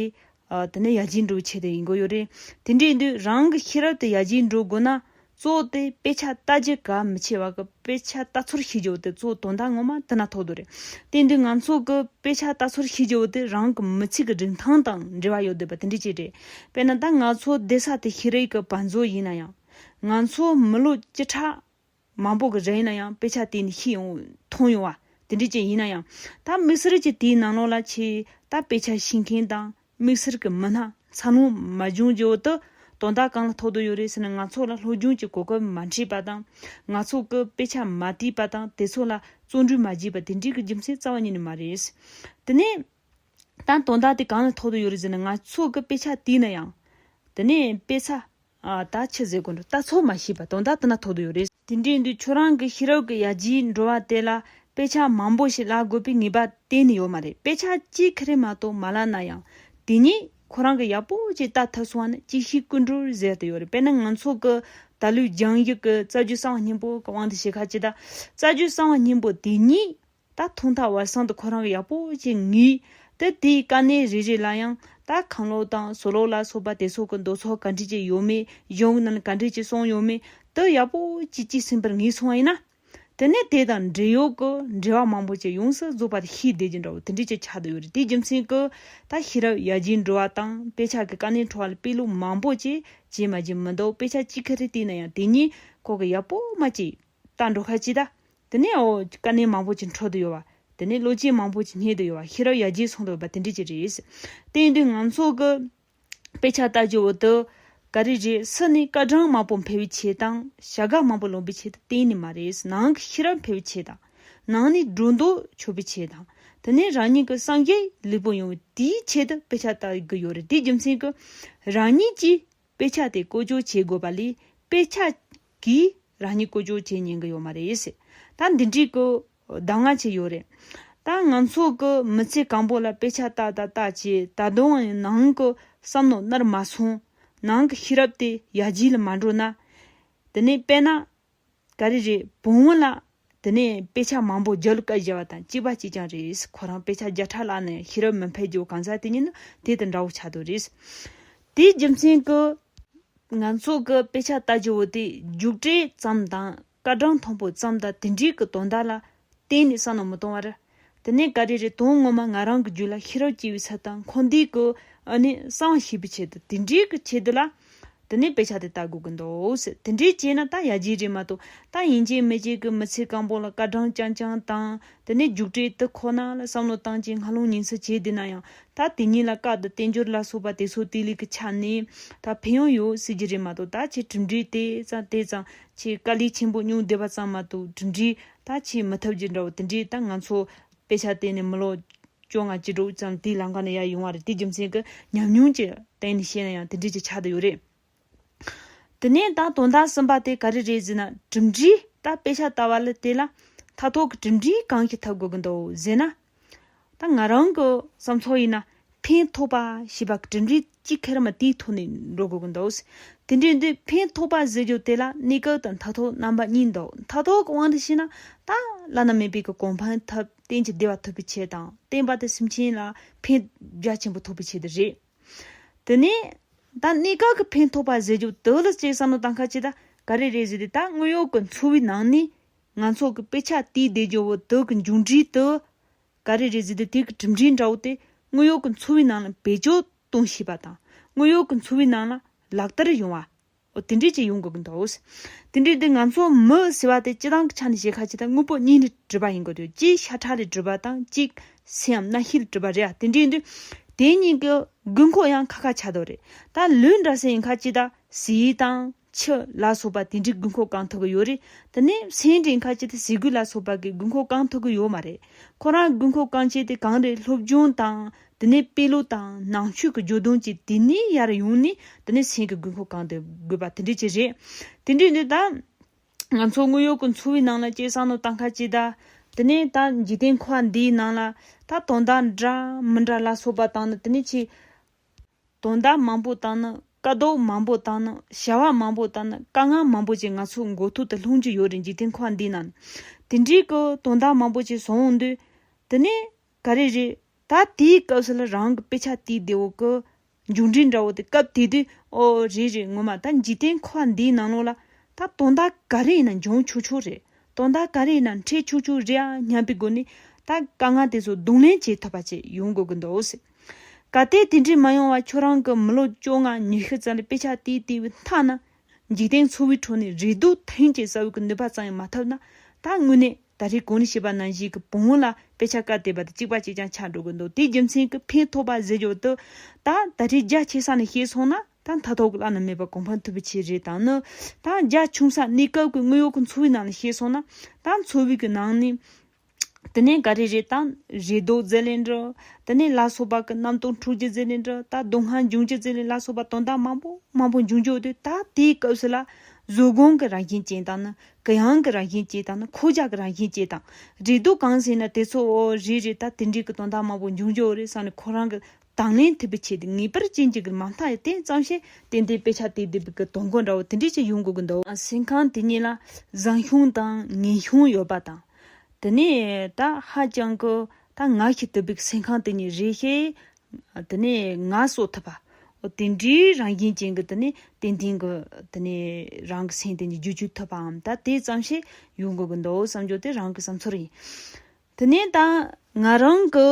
དེ་ནས་ཡར་རྒྱས་འགྲོ་བའི་ཆེད་དུ་ཡིན་དགོས་ཡོད་རེད། དེ་འདྲའི་དུས་རང་གི་ཤེས་རབ་དེ་ཡར་རྒྱས་འགྲོ་དགོས་ན་གཙོ་བོ་དེ་དཔེ་ཆ་ལྟ་རྒྱུ་གལ་མི་ཆེ་བ་གི་དཔེ་ཆ་ལྟ་ཚུལ་ཤེས་རྒྱུ་དེ་གཙོ་བོ་དོན་དག་ངོ་མ་དེ་ན་ཐོག་དུ་རེད། དེ་འདུག་ང་ཚོ་གི་དཔེ་ཆ་ལྟ་ཚུལ་ཤེས་རྒྱུ་དེ་རང་གི་མི་ཚེ་གི་རིན་ཐང་དང་འབྲེལ་བ་ཡོད་དགོས་པ་དེ་འདྲའི་ཆེད་རེད། དཔེར་ན་ད་ང་ཚོ་སྡེ་ས་དེ་ཤེས་རིག་གི་བང་མཛོད་ཡིན་ན་ཡང། ང་ཚོ་མི་ལོ་བཅུ་ཕྲག་མང་པོ་གི་རིང་ཡིན་ན་ཡང་དཔེ་ཆ་དེ་ནི་ཤེས་ཡོང་མཐོང་ཡོང་བ་དེ་འདྲས་ཅན་ཡིན་ན་ཡང། ད་དམིགས་བསལ་གྱིས་དེའི་ནང་ལོགས་ལ་ཆེས་ད་དཔེ་ཆ་ཤེས་མཁན་དང་དམིགས་བསལ་གྱི་མི་སྣ་འཚར་ལོངས་མ་བྱུང་བརྗེ་བོ་དུ་དོན་དག་གང་ལ་ཐོགས་དུ་ཡོད་རེད་ཟེར་ན་ང་ཚོ་ལ་ལྷོད་སྒྱུང་གྱི་གོ་སྐབས་མ་འཕྲད་པ་དང། ང་ཚོ་གི་དཔེ་ཆ་མ་བལྟས་པ་དང་དེ་ཚོ་ལ་བརྩོན་འགྲུས་མ་བགྱིས་པ་དེ་འདྲས་ཀྱི་རྒྱུ་མཚན་རྩ་བ་ཉིད་ནས་མ་རེད། དེ་ནས། དང་དོན་དག་དེ་གང་ལ་ཐོགས་དུ་ཡོད་རེད་ཟེར་ན་ང་ཚོ་གི་དཔེ་ཆ་དེ་ན་ཡང། དེ་ནས་དཔེ་ཆ། ད་ཁྱི་ཟེར་དགོས་འགྲོ་ལྟ་ཚོད་མ་ཤེས་པ་དོན་དག་དེ་ན་ཐོགས་དུ་ཡོད་རེད། དེ་འདྲའི་འདི་ཁྱོད་རང་གི་ཤེས་རབ་ཀྱི་ཡ་གྱིས་འགྲོ་བ་དེ་ལ་དཔེ་ཆ་མང་པོ་ཞིག་བཀླག་དགོས་པའི་ངེས་པ་གཏན་ནས་ཡོད་མ་རེད་དཔེ་ཆ་གཅིག་གི་རེ་མ་གཏོགས་མ་བཀླག་ན་ཡང་དེ་ཉིད་ཁོ་རང་གི་ཡག་པོ་ཅིག་བལྟ་ཐུབ་སོང་བ་ནི་གཅིག་ཤེས་ཀུན་གྲོལ་ཟེར་དེ་ཡོད་རེད་དཔེར་ན་ང་ཚོ་གི་ད་ལོའི་རྒྱང་ཡིག་གི་རྩ་རྒྱུད་གསང་བ་སྙིང་པོ་གི་དབང་དུ་བྱས་ཁ་ཅིག་ད་རྩ་རྒྱུད་གསང་བ་སྙིང་པོ་དེ་ཉིད་ད་ཐུང་ཐག་བར་གསང་དུ་ཁོ་རང་ཡག་པོ་ཅིག་ངུས། དེར་དེའི་དཀའ་གནད་རེ་རེ་ལ་ཡང་ད་གང་ལོག་དང་སོ་ལོག་ལ་སོགས་པ་དེ་སོག་གི་མདོ་ཚོགས་ག་འདྲི་ཅིག་ཡོད་མེད་གཞུང་རྣམས་ག་འདྲི་ཅིག་གསུངས་ཡོད་མེད་དུ་ཡག་པོ་ཅིག་གཅིག་ཟིན་པར་ངེས་སོང་བ་ཡིན་ན། དེ་ནས་དེ་དང་འབྲེལ་ཡོད་ཀྱི་འབྲེལ་བ་མང་པོ་ཅིག་ཡོངས་སུ་རྫོགས་པ་དེ་ཤེས་བསྡད་ཀྱི་འདྲ་བོ་དེ་འདྲི་ཅིག་ཆགས་དུ་ཡོད་རེད་དེའི་རྒྱུ་མཚན་གྱིས་ད་ཤེས་རབ་ཡར་རྒྱས་འགྲོ་བ་དང་དཔེ་ཆ་གི་དཀའ་གནད་འཕྲོ་བ་ལ་དཔེ་ལུགས་མང་པོ་ཅིག་བྱས་མ་བྱས་མི་འདུག་དཔེ་ཆ་གཅིག་ག་རེ་བལྟས་ན་ཡང་དེ་ཉིད་ཁོག་གི་ཡག་པོ་མ་སྐྱེས། ལྟ་འགྲོ་ཁ་ཅིག་གདའ། དེ་ནས་ཨོ། དཀའ་གནད་མང་པོ་ཅིག་འཕྲོ་དུ་ཡོད་བ། དེ་ནས་བློ་སྐྱེད་མང་པོ་ཅིག་རྙེད་དུ་ཡོད་བ་ཤེས་རབ་ཡར་རྒྱས་སོང་དུ་ཡོད་པ་དེ་འདྲས་ཅིག་རེད། བསྟན་དོན་ང་ཚོ་གི། དཔེ་ཆ་ལྟ་རྒྱུ་འོ་དོ། ག་རེ་རེད་སུ་ནི་སྐར་གྲངས་མང་པོ་འཕེལ་བའི་ཆེད་དང། བྱ་དགའ་མང་པོ་ལོན་པའི་ཆེད་དུ་གཏན་ནས་མ་རེད་ནང་གི་ཤེས་རབ་འཕེལ་བའི་ཆེད་དང། ནང་ནས་སྒྲོ་འདོགས་ཆོད་པའི་ཆེད་དང། དེ་ནས་རང་ཉིད་ཀྱི་སངས་རྒྱས་ལེགས་པོ་ཡོང་བའི་དེའི་ཆེད་དུ་དཔེ་ཆ་ལྟ་གི་ཡོད་རེད་དེའི་རྒྱུ་མཚན་གྱིས། རང་ཉིད་ཀྱིས་དཔེ་ཆ་དེ་བཀོལ་སྤྱོད་བྱེད་དགོས་པ་ལས་དཔེ་ཆ། གིས་རང་ཉིད་བསྐོ་སྦྱོར་བྱེད་ཉན་གི་ཡོད་མ་རེད། ད་འདི་འདྲིས་ཀི་གདམ་ང་བྱེད་ཡོད་རེད། ད་ང་ཚོ་གི་མི་ཚེ་གང་པོ་ལ་དཔེ་ཆ་བལྟ་ད་བལྟ་བྱས་ད་དུང་ཡང་ནང་གི་བསམ་མནོ་ནར་མ་སོང། ནང་གི་ཤེས་རབ་དེ་ཡར་རྒྱས་ལ་མ་འགྲོ་ན། དེ་ནས་དཔེ་ན། ག་རེ་རེད་བུང་བ་ལ་དེ་ནས་དཔེ་ཆ་མང་པོ་བརྒྱུད་བསྐལ་བཞེས་པ་དང་གཅིག་པ་གཅིག་ཀྱང་རེད། ཁོ་རང་དཔེ་ཆ་བརྒྱ་ཕྲག་བཀླགས་ནས་ཤེས་རབ་མི་འཕེལ་རྒྱུ་གང་ཟག་དེ་ཉིད་ནི་དེ་དང་འདྲ་བོ་ཆགས་འདུག་རེད། དེའི་རྒྱུ་མཚན་གྱིས། ང་ཚོ་གི་དཔེ་ཆ་ལྟ་རྒྱུ་བོ་དེ་རྒྱུགས་སྤྲོད་ཙམ་དང་སྐར་གྲངས་མཐོན་པོ་ཙམ་དང་དེ་འདྲའི་གི་དོན་དག་ལ་གཏན་ནས་བསམ་ན་མི་གཏོང་བར། དེ་ནས་ག་རེ་རེད་དོན་ངོ་མ་ང་རང་གི་རྒྱུད་ལ་ཤེས་རབ་སྐྱེ་བའི་ཚད་དང་འཁོར་འདས་ཀྱི་ཨ་ནི་གསང་བ་ཤེས་པའི་ཆེད་དུ་དེ་འདྲའི་གི་ཆེད་དུ་ལ། དེ་ནས་དཔེ་ཆ་དེ་ལྟ་དགོས་ཀྱི་འདུག་ཟེར་དེ་འདྲའི་བྱས་ན་ད་ཡ་རྗེས་རེད་མ་གཏོགས་ད་ཡིན་ཅེས་མི་བྱེད་གི་མི་ཚེ་གང་པོ་ལ་སྐར་གྲངས་རྐྱང་རྐྱང་དང་དེ་ནས་རྒྱུགས་སྤྲད་དུ་ཁོ་ན་ལ་བསམ་བློ་བཏང་རྗེས་སྔ་ལུང་ཉིན་སྲིད་བྱས་བསྡད་ན་ཡང་ད་དེ་ཉིད་ལ་བཀག་ཏུ་བསྟན་འགྱུར་ལ་སོགས་པ་དེ་ཚོ་དེ་ལས་གི་ཆ་ནས་ད་ཕན་ཡོང་ཡོད་སྲིད་ཀྱི་རེད་མ་གཏོགས་ད་ཁྱེད་གྲུབ་འབྲས་དེ་ཙམ་དེ་ཙམ་ཁྱེད་དཀའ་ལས་ཆེན་པོ་མྱོང་བསྡད་པ་ཙམ་མ་གཏོགས་གྲུབ་འབྲས་ད་ཆའི་མི་ཐབས་ཀྱི་འདྲ་བོ་དེ་འདྲས་ད་ང་ཚོ་དཔེ་ཆ་གཏན་ནས་མི་ཀློག། སྐྱོ་ང་ཅི་དྲུག་ཙམ་དེའི་ལམ་ཁ་ནས་ཡར་ཡོང་བ་རེད་དེ་རྒྱུ་མཚན་གྱི་ཉམས་མྱོང་གྱི་སྟེང་ནས་བཤད་ན་ཡང་དེ་འདྲས་ཀྱི་ཆ་དེ་ཡོད་རེད། དེ་ནས་ད་དོན་དག་གསུམ་པ་དེ་ག་རེ་རེད་ཟེར་ན་གྲུབ་འབྲས་ད་དཔེ་ཆ་ལྟ་བ་ལ་དེ་ལ་མཐའ་ཐོག་གི་གྲུབ་འབྲས་གང་ཞིག་འཐབ་དགོས་ཀྱི་འདུག་ཟེར་ན། ད་ང་རང་གི་བསམ་ཚོགས་ཡིན་ན་ཕན་ཐོགས་པ་ཞེས་པ་དྲིལ་འབྲི་གཅིག་ཁེར་མ་དེའི་ཐོག་ནས་འགྲོ་དགོས་ཀྱི་འདུག་དེ་འདྲའི་འདི་ཕན་ཐོགས་པ་ཟེར་རྒྱུ་དེ་ལ་གནད་འགག་དང་མཐའ་ཐོག་རྣམ་པ་གཉིས་འདུག་མཐའ་ཐོག་གི་དབང་དུ་བྱས་ན་ད་བླ་ན་མེད་པའི་གི་གོ་འཕང་ཐབས་གཏན་གྱི་བདེ་བ་ཐོབ་པའི་ཆེད་དང་བསྟན་པ་དང་སེམས་ཅན་ལ་ཕན་རྒྱ་ཆེན་པོ་ཐོབ་པའི་ཆེད་དུ་རེད། དེ་ནས་ད་གནད་འགག་གི་ཕན་ཐོགས་པ་ཟེར་རྒྱུ་དེ་ལ་སྤྱིར་བསམ་བློ་བཏང་ཁ་ཅིག་ད་ག་རེ་རེད་ཟེར་ཏེ་ད་དངོས་ཡོད་ཀྱི་འཚོ་བའི་ནང་ནས་ང་ཚོ་གི་དཔེ་ཆ་དེའི་བདེ་སྦྱོར་བོ་དེ་གི་མཇུག་འབྲས་དུ། ག་རེ་རེ་བཟོས་ཏེ་དེ་གི་གྲུབ་འབྲས་འདྲ་བོ་དེ་དངོས་ཡོད་ཀི་འཚོ་བའི་ནང་ལ་བེད་སྤྱོད་གཏོང་ཤེས་པ་དང། དངོས་ཡོད་ཀི་འཚོ་བའི་ནང་ལ་ལག་བསྟར་ཡོང་བ། འོ་དེ་འདྲས་ཅིག་ཡོང་དགོས་ཀི་འདུག། དེ་འདྲས་དེ་ང་ཚོ་མི་ཟེར་བ་དེ་སྤྱི་བཏང་གི་ཆ་ནས་བཤད་ཁ་ཅིག་དང་དངོས་པོ་གཉིས་ལས་གྲུབ་པ་ཡིན་དགོས་དུས་གཅིག་ཤ་ཁྲག་ལས་གྲུབ་པ་དང་གཅིག་སེམས་རྣ་ཤེས་ལས་གྲུབ་པ་རེད་ཨ་དེ་འདྲས་དུས་དེ་གཉིས་ཀི་དགོས་མཁོ་ཡང་ཁ་ཁ་ཆགས་དོགས་རེད། ད་ལོས་འདྲ་ཟེར་ཡིན་ཁ་ཅིག་ད་ཟེར་དང། ཕྱི་ལ་སོགས་པ་དེ་འདྲའི་དགོས་མཁོ་གང་ཐོག་གི་ཡོད་རེད་དེ་ནས་སེང་སྒྲས་ཁ་ཆེ་དེ་ཟས་གོས་ལ་སོགས་པ་གི་དགོས་མཁོ་གང་ཐོག་གི་ཡོད་མ་རེད་ཁོ་རང་དགོས་མཁོ་གང་ཆེ་དེ་གང་རེད་སློབ་སྦྱོང་དང་དེ་ནས་དཔེ་ཀློག་དང་ནང་ཆོས་གི་འཇོ་དོན་གྱི་དེ་ནས་ཡར་ཡོང་ནས་དེ་ནས་སེང་གི་དགོས་མཁོ་གང་དེ་དགོས་པ་དེ་འདྲའི་ཆེ་རེད་དེ་འདྲའི་འདི་ད། ང་ཚོ་དངོས་ཡོད་གི་འཚོ་བའི་ནང་ལ་སྐྱེས་བཟང་ནོ་ད་ཁ་ཆེ་ད་དེ་ནས་ད་འཇིག་རྟེན་ཁོ་བ་འདིའི་ནང་ལ་ད་དོན་དག་འདྲ་མི་འདྲ་ལ་སོགས་པ་དང་ནི་དེ་ནས་ཆེ་དོན་དག་མང་པོ་དང་ནི་དཀའ་སྡུག་མང་པོ་དང་ནི་བྱ་བ་མང་པོ་དང་ནི་དཀའ་ངལ་མང་པོ་བཅས་ང་ཚོ་མགོ་ཐོག་ཏུ་ལྷུང་རྒྱུ་ཡོད་རེད་འཇིག་རྟེན་ཁོག་འདི་ན། དེ་འདྲའི་གི་དོན་དག་མང་པོ་བཅས་བཟོ་འོང་དུས། དེ་ནས་ག་རེ་རེད། ད་དེའི་སྐབས་སུ་ལ་རང་གི་དཔེ་ཆ་དེའི་སྡེ་བོ་གི། མཇུག་འབྲས་འདྲ་བོ་དེ་སྐབས་དེ་དུས་ཨོ་རེད་རེད་ངོ་མ་ད་འཇིག་རྟེན་ཁོག་འདིའི་ནང་ལོག་ལ། ད་དོན་དག་ག་རེ་ཡིན་ན་འབྱུང་ཆུག་ཆུག་རེད། དོན་དག་ག་རེ་ཡིན་ན་འཕྲད་ཆུག་ཆུག་རེད་ཨ་སྙམ་པའི་སྒོ་ནས། ད་དཀའ་ངལ་དེ་ཚོ་རྡུང་ལེན་བྱེད་ཐུབ་པ་བཅས་ཡོང་དགོས་ཀྱི་འདུག། ག་སྟེ་དེ་འདྲས་མ་ཡོང་བ་ཁྱོད་རང་གི་མི་ལོ་བཅོ་ལྔ་ཉི་ཤུ་ཙམ་ལ་དཔེ་ཆ་དེའི་ལྟེ་བའི་མཐའ་ན་འཇིག་རྟེན་འཚོ་བའི་ཁྲོད་ནས་རེ་སྡུག་ཐེངས་གཅིག་ཟ་འོས་ཀྱི་ནུས་པ་ཙམ་ཡང་མ་ཐོབ་ན་ད་དངོས་གནས་ད་རེས་གོང་རིམ་བྱིས་པ་ནང་བཞིན་གྱི་བུ་མོ་ལ་དཔེ་ཆ་བཀར་བསྡད་པ་དེ་གཅིག་པ་གཅིག་རྐྱང་ཆགས་འགྲོ་གི་འདུག་དེའི་རྒྱུ་མཚན་གྱི་ཕན་ཐོགས་པ་ཟེར་རྒྱུ་དེ་ད་ད་རེས་རྒྱ་ཆེ་ས་ནས་ཤེས་སོང་ན་ད་མཐའ་ཐོག་བླ་ན་མེད་པ་གོང་འཕང་ཐུབ་པའི་ཆེད་རེད་དང་ནི་ད་རྒྱ་ཆུང་ས་གནས་སྐབས་ཀྱི་དངོས་ཡོད་ཀྱི་འཚོ་བའི་ནང་ལ་ཤེས་སོང་ན་ད་འཚོ་བའི་གྱི་ནང་ནས་དེ་ནས་འགའ་རེས་རེ་དང། རེ་དོགས་རྫས་ལས་འབྲི། དེ་ནས་ལ་སོགས་པ་ཀུན་རྣམ་རྟོག་འཁྲུགས་ཀྱི་རྫས་ལས་འབྲི་ད་སྡུག་བསྔལ་འབྱུང་བྱེད་རྫས་ལས་ལ་སོགས་པ་དོན་དག་མང་པོ་མང་པོ་འབྱུང་བྱུང་དུས་ད་ལྟའི་སྐབས་སུ་ལ། གཟུགས་གོང་གི་རང་བཞིན་ཅན་དང་ནི། གི་ཡང་གི་རང་བཞིན་ཅན་དང་ནི་འཁོར་བྱ་གི་རང་བཞིན་ཅན་དང། རེ་དོགས་གང་ཟིན་ན་དེ་ཚོ། རེ་རེ་ད་དེ་འདྲའི་གི་དོན་དག་མང་པོ་འབྱུང་བྱུང་རེ་བསམ་ནས་ཁོ་རང་གི་དང་ལེན་ཐུབ་པའི་ཆེད་དུ་ངེས་པར་ཅི་འཇིགས་ཀྱི་མ་མཐའ་ཡི་རྟེན་གཙང་བཤད་ཏན་ཏན་དཔེ་ཆ་དེ་དེབ་ཀྱི་དོ་མགོ་འདྲ་བོ་དེ་འདྲས་ཀྱི་ཡོང་དགོས་ཀྱི་འདུག། ཟིན་ཁང་དེ་གཉིས་ལ་བཟང་ཤུང་དང་ངན་ཤུང་ཡོད་པ་དང། དེ་ནས་ད་ཧ་ཅང་གི་ད་ང་ཤི་ཐུབ་པའི་ཟིན་ཁང་དེ་གཉིས་རེད་ཤེས། དེ་ནས་ང་གསོ་ཐུབ་པ། དེ་འདྲའི་རང་བཞིན་ཅན་གྱི་དེ་ནས་ཏན་ཏན་གྱི་དེ་ནས་རང་གི་སེམས་དེ་ནས་རྒྱུད་བཅུག་ཐུབ་པའམ་ད་དེ་ཙམ་ཞིག་ཡོང་དགོས་ཀྱི་འདུག་བསམ་སྦྱོར་དེ་རང་གི་བསམ་ཚུལ་ཡིན། དེ་ནས་ད་ང་རང་གི།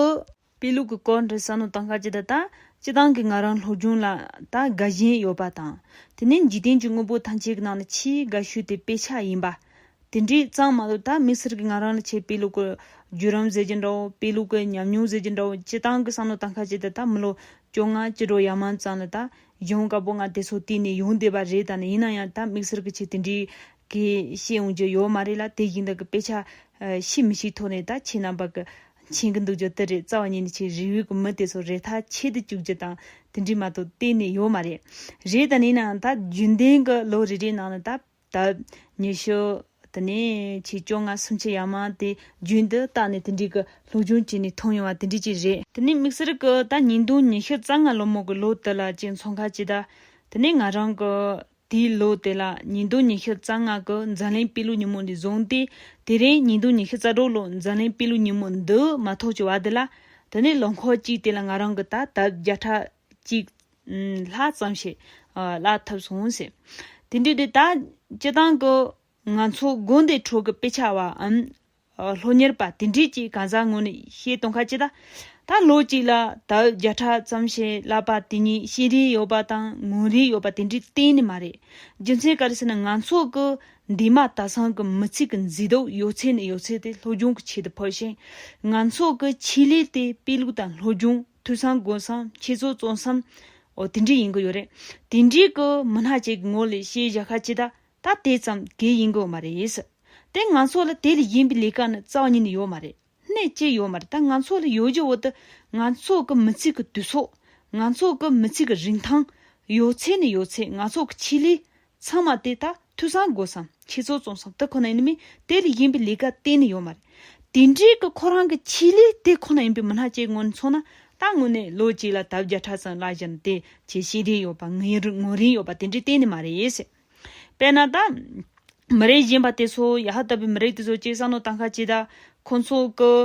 པའི་ལུགས་ཀྱི་སྐོར་འདྲི་ས་ནོ་དང་ཤ་ཅི་ད་ལྟ་སྤྱི་བཏང་གི་ང་རང་སློབ་སྦྱོང་ལ་ད་དགའ་བཞིན་ཡོད་པ་དང་དེ་ནས་འཇིག་རྟེན་གྱི་དངོས་པོ་ཐམས་ཅད་ཀྱི་ནང་ནས་ཆེས་དགའ་ཤོས་དེ་དཔེ་ཆ་ཡིན་པ། དེ་འདྲའི་གཙང་མ་ལོ་ད་མི་སེར་གྱི་ང་རང་ལ་ཆེས་དཔེ་ལུགས་ཀྱི་བརྒྱུད་རམ་ཟེར་གྱི་འདྲ་བོ་དཔེ་ལུགས་ཀྱི་ཉམས་མྱོང་ཟེར་གྱི་འདྲ་བོ་སྤྱི་བཏང་གི་ས་ནོ་དང་ཤ་ཅི་ད་ལྟ་མི་ལོ་བཅོ་ལྔ་སྤྱི་ལོ་ཡར་མང་ཙམ་ལ་ད་གཞོན་དཀར་པོ་ང་དེ་ཚོ་བསྟེན་ནས་ཡོང་བསྡད་པ་རེད་ད་ནི་ཡིན་ན་ཡང་ད་མི་སེར་གྱི་ཆེས་དེ་འདྲའི་གི་ཤེས་ཡོང་རྒྱུ་ཡོད་མ་རེད་ལ་དེ་བཞིན་དག་གི་དཔེ་ཆ་ཤི་མི་ཤི་ཐོག་ནས་ད་ཁྱེད་རྣམ་པ་གི་མཁྱེན་གི་འདུག་རྒྱུ་དེ་རེད་རྩ་བ་ཉིད་ནས་ཆེས་རིགས་དབྱེ་གི་མི་དེ་ཚོ་རེ་ཐག་ཆད་དུ་བཅུག་རྒྱུ་དང་དེ་འདྲའི་མ་གཏོགས་གཏན་ནས་ཡོད་མ་རེད། རེད་ད་ནས་ཡིན་ནའང་ད་རྒྱུན་ལྡན་གི་ལོ་རེ་རེའི་ནང་ལ་ད་བབས། ཉི་ཤུ། དེ་ནས་ཆེས་བཅོ་ལྔ་སུམ་ཆ་ཡར་མར་དེ་རྒྱུན་དུ་བརྟག་ནས་དེ་འདྲའི་གི་སློབ་སྦྱོང་བྱས་ནས་མཐོང་ཡོང་བ་དེ་འདྲའི་ཅིག་རེད། དེ་ནས་དམིགས་བསལ་གི་ད་ཉིས་སྟོང་ཉི་ཤུ་རྩ་ལྔ་ལོ་མོ་གི་ལོ་དེ་ལ་ཅིག་མཚོ་མཁར་སྤྱི་བདག། དེ་ནས་ང་རང་གི། དེའི་ལོ་དེ་ལ་ཉིས་སྟོང་ཉི་ཤུ་རྩ་ལྔ་གི་འཛམ་གླིང་དཔེ་ལུགས་ཉིན་མོ་འདི་བཟུང་སྟེ། དེ་རིང་ཉིས་སྟོང་ཉི་ཤུ་རྩ་དྲུག་ལོའི་འཛམ་གླིང་དཔེ་ལུགས་ཉིན་མོ་འདི་མ་ཐོག་ཀྱི་བར་དེ་ལ། དེ་ནས་ལོ་འཁོར་གཅིག་དེ་ལ་ང་རང་གིས་ད་ལྟ་བརྒྱ་ཕྲག་གཅིག། ལྷག་ཙམ་ཞིག་བཀླགས་ཐུབ་སོང་ཟེར། དེ་འདྲའི་དེ་དག་སྤྱི་སྟངས་ཀྱི། ང་ཚོ་དགོན་སྡེའི་ཁྲོད་ཀྱི་དཔེ་ཆ་བའམ། ལྷོ་གཉེར་པ་དེ་འདྲས་ཀྱིས་གང་ཟག་ངོ་ནས་བཤད་སྟོང་ཁ་ཅིག་ལ། ད་ལོ་གཅིག་ལ་ད་ཨུད་བརྒྱ་ཕྲག་ཙམ་བྱས་ལབ་པ་དེ་ཉིད་བཤད་རིན་ཡོད་པ་དང་ངོ་རིན་ཡོད་པ་དེ་འདྲས་གཏན་ནས་མ་རེད། རྒྱུ་མཚན་ག་རེ་ཟེར་ན་ང་ཚོ་གི་འདས་མ་ད་སང་གི་མི་ཚིག་གི་མཛེས་སྡུག་ཡོད་ཚད་ནས་ཡོད་ཚད་དེ་ལྷོ་རྒྱུང་གི་ཆེད་དུ་ཕུལ་ཞིང། ང་ཚོ་གི་ཆེད་ལས་དེ་དཔེ་ལུགས་དང་ལྷོ་རྒྱུང་ཐོས་བསམ་དགོས་བསམ་འཆད་རྩོད་བརྩོན་བསམ། འོ་དེ་འདྲས་ཡིན་གི་ཡོད་རེད། དེ་འདྲས་ཀྱི་མི་སྣ་ཅིག་གི་ངོ་ལས་བཤད་བཞག་ཁ་ཅིག་ད་ད་དེ་ཙམ་གྱིས་ཡིན་དགོས་མ་རེད། དེ་ང་ཚོ་ལ་དེ་ལས་གཞན་པའི་ལས་ཀ་ནི་རྩ་བ་ཉིད་ནས་ཡོད་མ་རེད། གནད་གཅིག་ཡོད་མ་རེད་ད་ང་ཚོ་ལ་ཡོད་རྒྱུ་འོ་ད་ང་ཚོ་གི་མི་ཚེ་གི་དུས་ཚོད། ང་ཚོ་གི་མི་ཚེ་གི་རིན་ཐང། ཡོད་ཚད་ནི་ཡོད་ཚད་ང་ཚོ་གི་ཆེད་ལས། ཚང་མ་དེ་ད་འཐུས་ཚང་དགོས་སམ་ཁྱེད་ཚོ་བཙོང་སམ་དེ་ཁོ་ན་ཡིན་མིན་དེ་ལས་གཞན་པའི་ལས་ཀ་གཏན་ནས་ཡོད་མ་རེད། དེ་འབྲེལ་གྱི་ཁོ་རང་གི་ཆེད་ལས་དེ་ཁོ་ན་ཡིན་པའི་མི་སྣ་བཅས་ངོས་ནས་མཚོན་ན་ད་དངོས་གནས་ལོ་གཅིག་ལ་དར་བརྒྱ་ཕྲག་ཙམ་བརླག་བཞིན་དེ་བྱས་ཤེས་ལྡན་ཡོད་པ་ངོས་རིན་ཡོད་པ་དེ་འདྲའི་གཏན་ནས་མ་རེད། དཔེར་ན། མི་རིགས་གཞན་པ་དེ་ཚོ་ཡ་ཧ་ལྟ་བུའི་མི་རིགས་དེ་ཚོ་སྤྱིར་བསམ་བློ་བཏང་ཁ་ཅིག་ད། ཁོ་ཚོ་གི།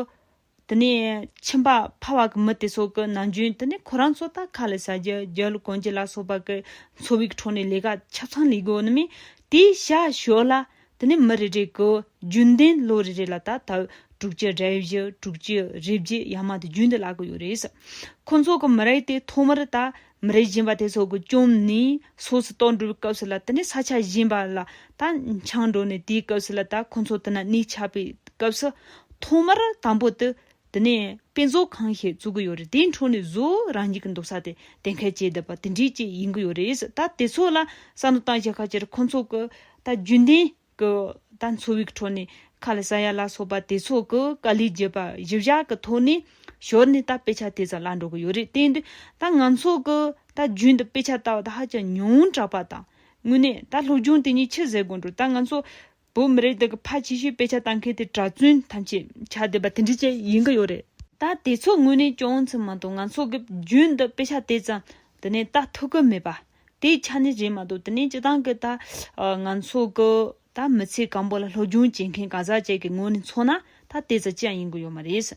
དེ་ནས་ཁྱིམ་པ་ཕ་བ་གི་མི་དེ་ཚོ་གི་ནང་རྒྱུན་དེ་ནས་ཁོ་རང་ཚོ་ད་ཁ་ལས་ཟ་རྒྱུ་རྒྱལ་ལོ་གོན་རྒྱུ་ལ་སོགས་པ་གི་འཚོ་བའི་ཁྲོད་ནས་ལས་ཀ་ཆ་ཚང་ལས་དགོས་ནི་མིན། དེའི་ཤ་ཞོ་ལ། དེ་ནས་མི་རེ་རེ་གི་རྒྱུན་ལྡན་ལོ་རེ་རེ་ལ་ད་ལྟ་དྲུག་ཅུ་རེ་བཞི་དྲུག་ཅུ་རེ་བརྒྱད་ཡར་མར་དུ་རྒྱུན་དུ་ལ་གི་ཡོད་རེད། ཁོ་ཚོ་གི་མི་རེ་དེ་ཐོག་མར་ད་མི་རེ་བཞེངས་པ་དེ་ཚོ་གི་བཅོམ་ནས་སོགས་སུ་གཏོགས་འགྲོ་བའི་སྐབས་སུ་ལ་དེ་ནས་ས་ཆ་བཞེངས་པ་ལ་ད་འཆང་འགྲོ་ནས་དེའི་སྐབས་སུ་ལ་ད་ཁོ་ཚོ་དེ་ན་གནས་ཆགས་པའི་སྐབས་སུ་ཐོག་མར་དང་པོ་དུ་དེ་ནས་དཔེ་མཛོད་ཁང་ཞིག་བཙུགས་ཀྱི་ཡོད་རེད་དེའི་འཕྲོ་ནས་བཟོ་རང་གཉིས་ཀྱི་འདུག་ས་དེ་གཏན་འཁེལ་བྱས་བསྡད་པ་དེ་འདྲས་ཅིག་ཡིན་གྱི་ཡོད་རེད་ད་དེ་ཚོ་ལ་བསམ་བློ་གཏང་བྱས་ཁ་ཆེར་ཁོ་ཚོ་གི་ད་རྒྱུན་ལྡན་གྱི་ད་འཚོ་བའི་འཕྲོ་ནས་ཁ་ལ་ས་ཡ་ལ་སོགས་པ་དེ་ཚོ་གི་དཀའ་ལས་བརྒྱུད་པ་བཞི་བཞག་གི་ཐོག་ནས་ཞོར་ནས་ད་དཔེ་ཆ་དེ་ཙམ་བཀླགས་འགྲོ་གི་ཡོད་རེད་བརྟེན་དུས་ད་ང་ཚོ་གི་ད་རྒྱུན་དུ་དཔེ་ཆ་ལྟ་བ་དེ་ཧ་ཅང་ཉུང་དྲགས་པ་དང་དངོས་གནས་ད་སློབ་སྦྱོང་དེ་ཉིད་ཆི་ཟེར་དགོས་འགྲོ་ད་ང་ཚོ་བོད་མི་རིགས་དེ་གི་ཕ་ཆེ་ཤོས་དཔེ་ཆ་བལྟ་མཁན་དེ་གྲྭ་བཙུན་ཐམས་ཅད་ཆ་ལྡན་པ་དེ་འདྲི་བཅས་ཡིན་གི་ཡོད་རེད། ད་དེ་ཚོ་དངོས་གནས་སྐྱོང་ཚུལ་མ་གཏོགས་ང་ཚོ་གི་བརྒྱུད་འདི་དཔེ་ཆ་དེ་ཙམ་དེ་ནས་བལྟ་ཐུབ་གི་མེད་པ་དེ་ཆ་ནས་རེད་མ་གཏོགས་དེ་ནས་སྤྱི་བཏང་གི་ད་ང་ཚོ་གི་ད་མི་ཚེ་གང་པོ་ལ་སློབ་སྦྱོང་བྱེད་མཁན་གང་ཟག་བཅས་ཀྱི་ངོས་ནས་མཚོན་ན་ད་དེ་ཙམ་ཅི་ཡང་ཡིན་གི་ཡོད་མ་རེད།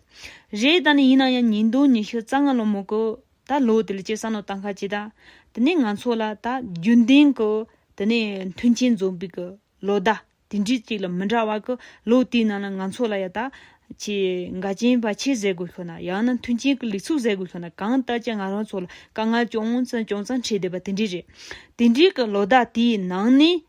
རེད་ད་ནི་ཡིན་ན་ཡང་ཉིས་སྟོང་ཉི་ཤུ་རྩ་ལྔ་ལོ་མོ་གི་ད་ལོ་དེ་ལ་སྤྱིར་བསམ་བློ་བཏང་ཁ་ཅིག་ད་དེ་ནས་ང་ཚོ་ལ་ད་རྒྱུན་ལྡན་གི་དེ་ནས་མཐུན་རྐྱེན་འཛོམས་པའི་གི་ལོ་ཟླ་དེ་འདྲི་གཅིག་ལ་མི་འདྲ་བ་གི་ལོ་དེའི་ནང་ལ་ང་ཚོ་ལ་ཡ་ད། ཆེས་འགལ་རྐྱེན་བར་ཆད་བཟོས་དགོས་ཤོག་ན་ཡང་ན་མཐུན་རྐྱེན་གྱི་ལེགས་ཚུགས་བཟོས་དགོས་ཤོག་ན་གང་ལྟར་གྱི་ང་རང་ཚོ་ལ་དཀའ་ངལ་ཅུང་ཙམ་ཅུང་ཙམ་འཕྲད་བསྡད་པ་དེ་འདྲི་རེད། དེ་འདྲི་གི་ལོ་ཟླ་དེའི་ནང་ནས།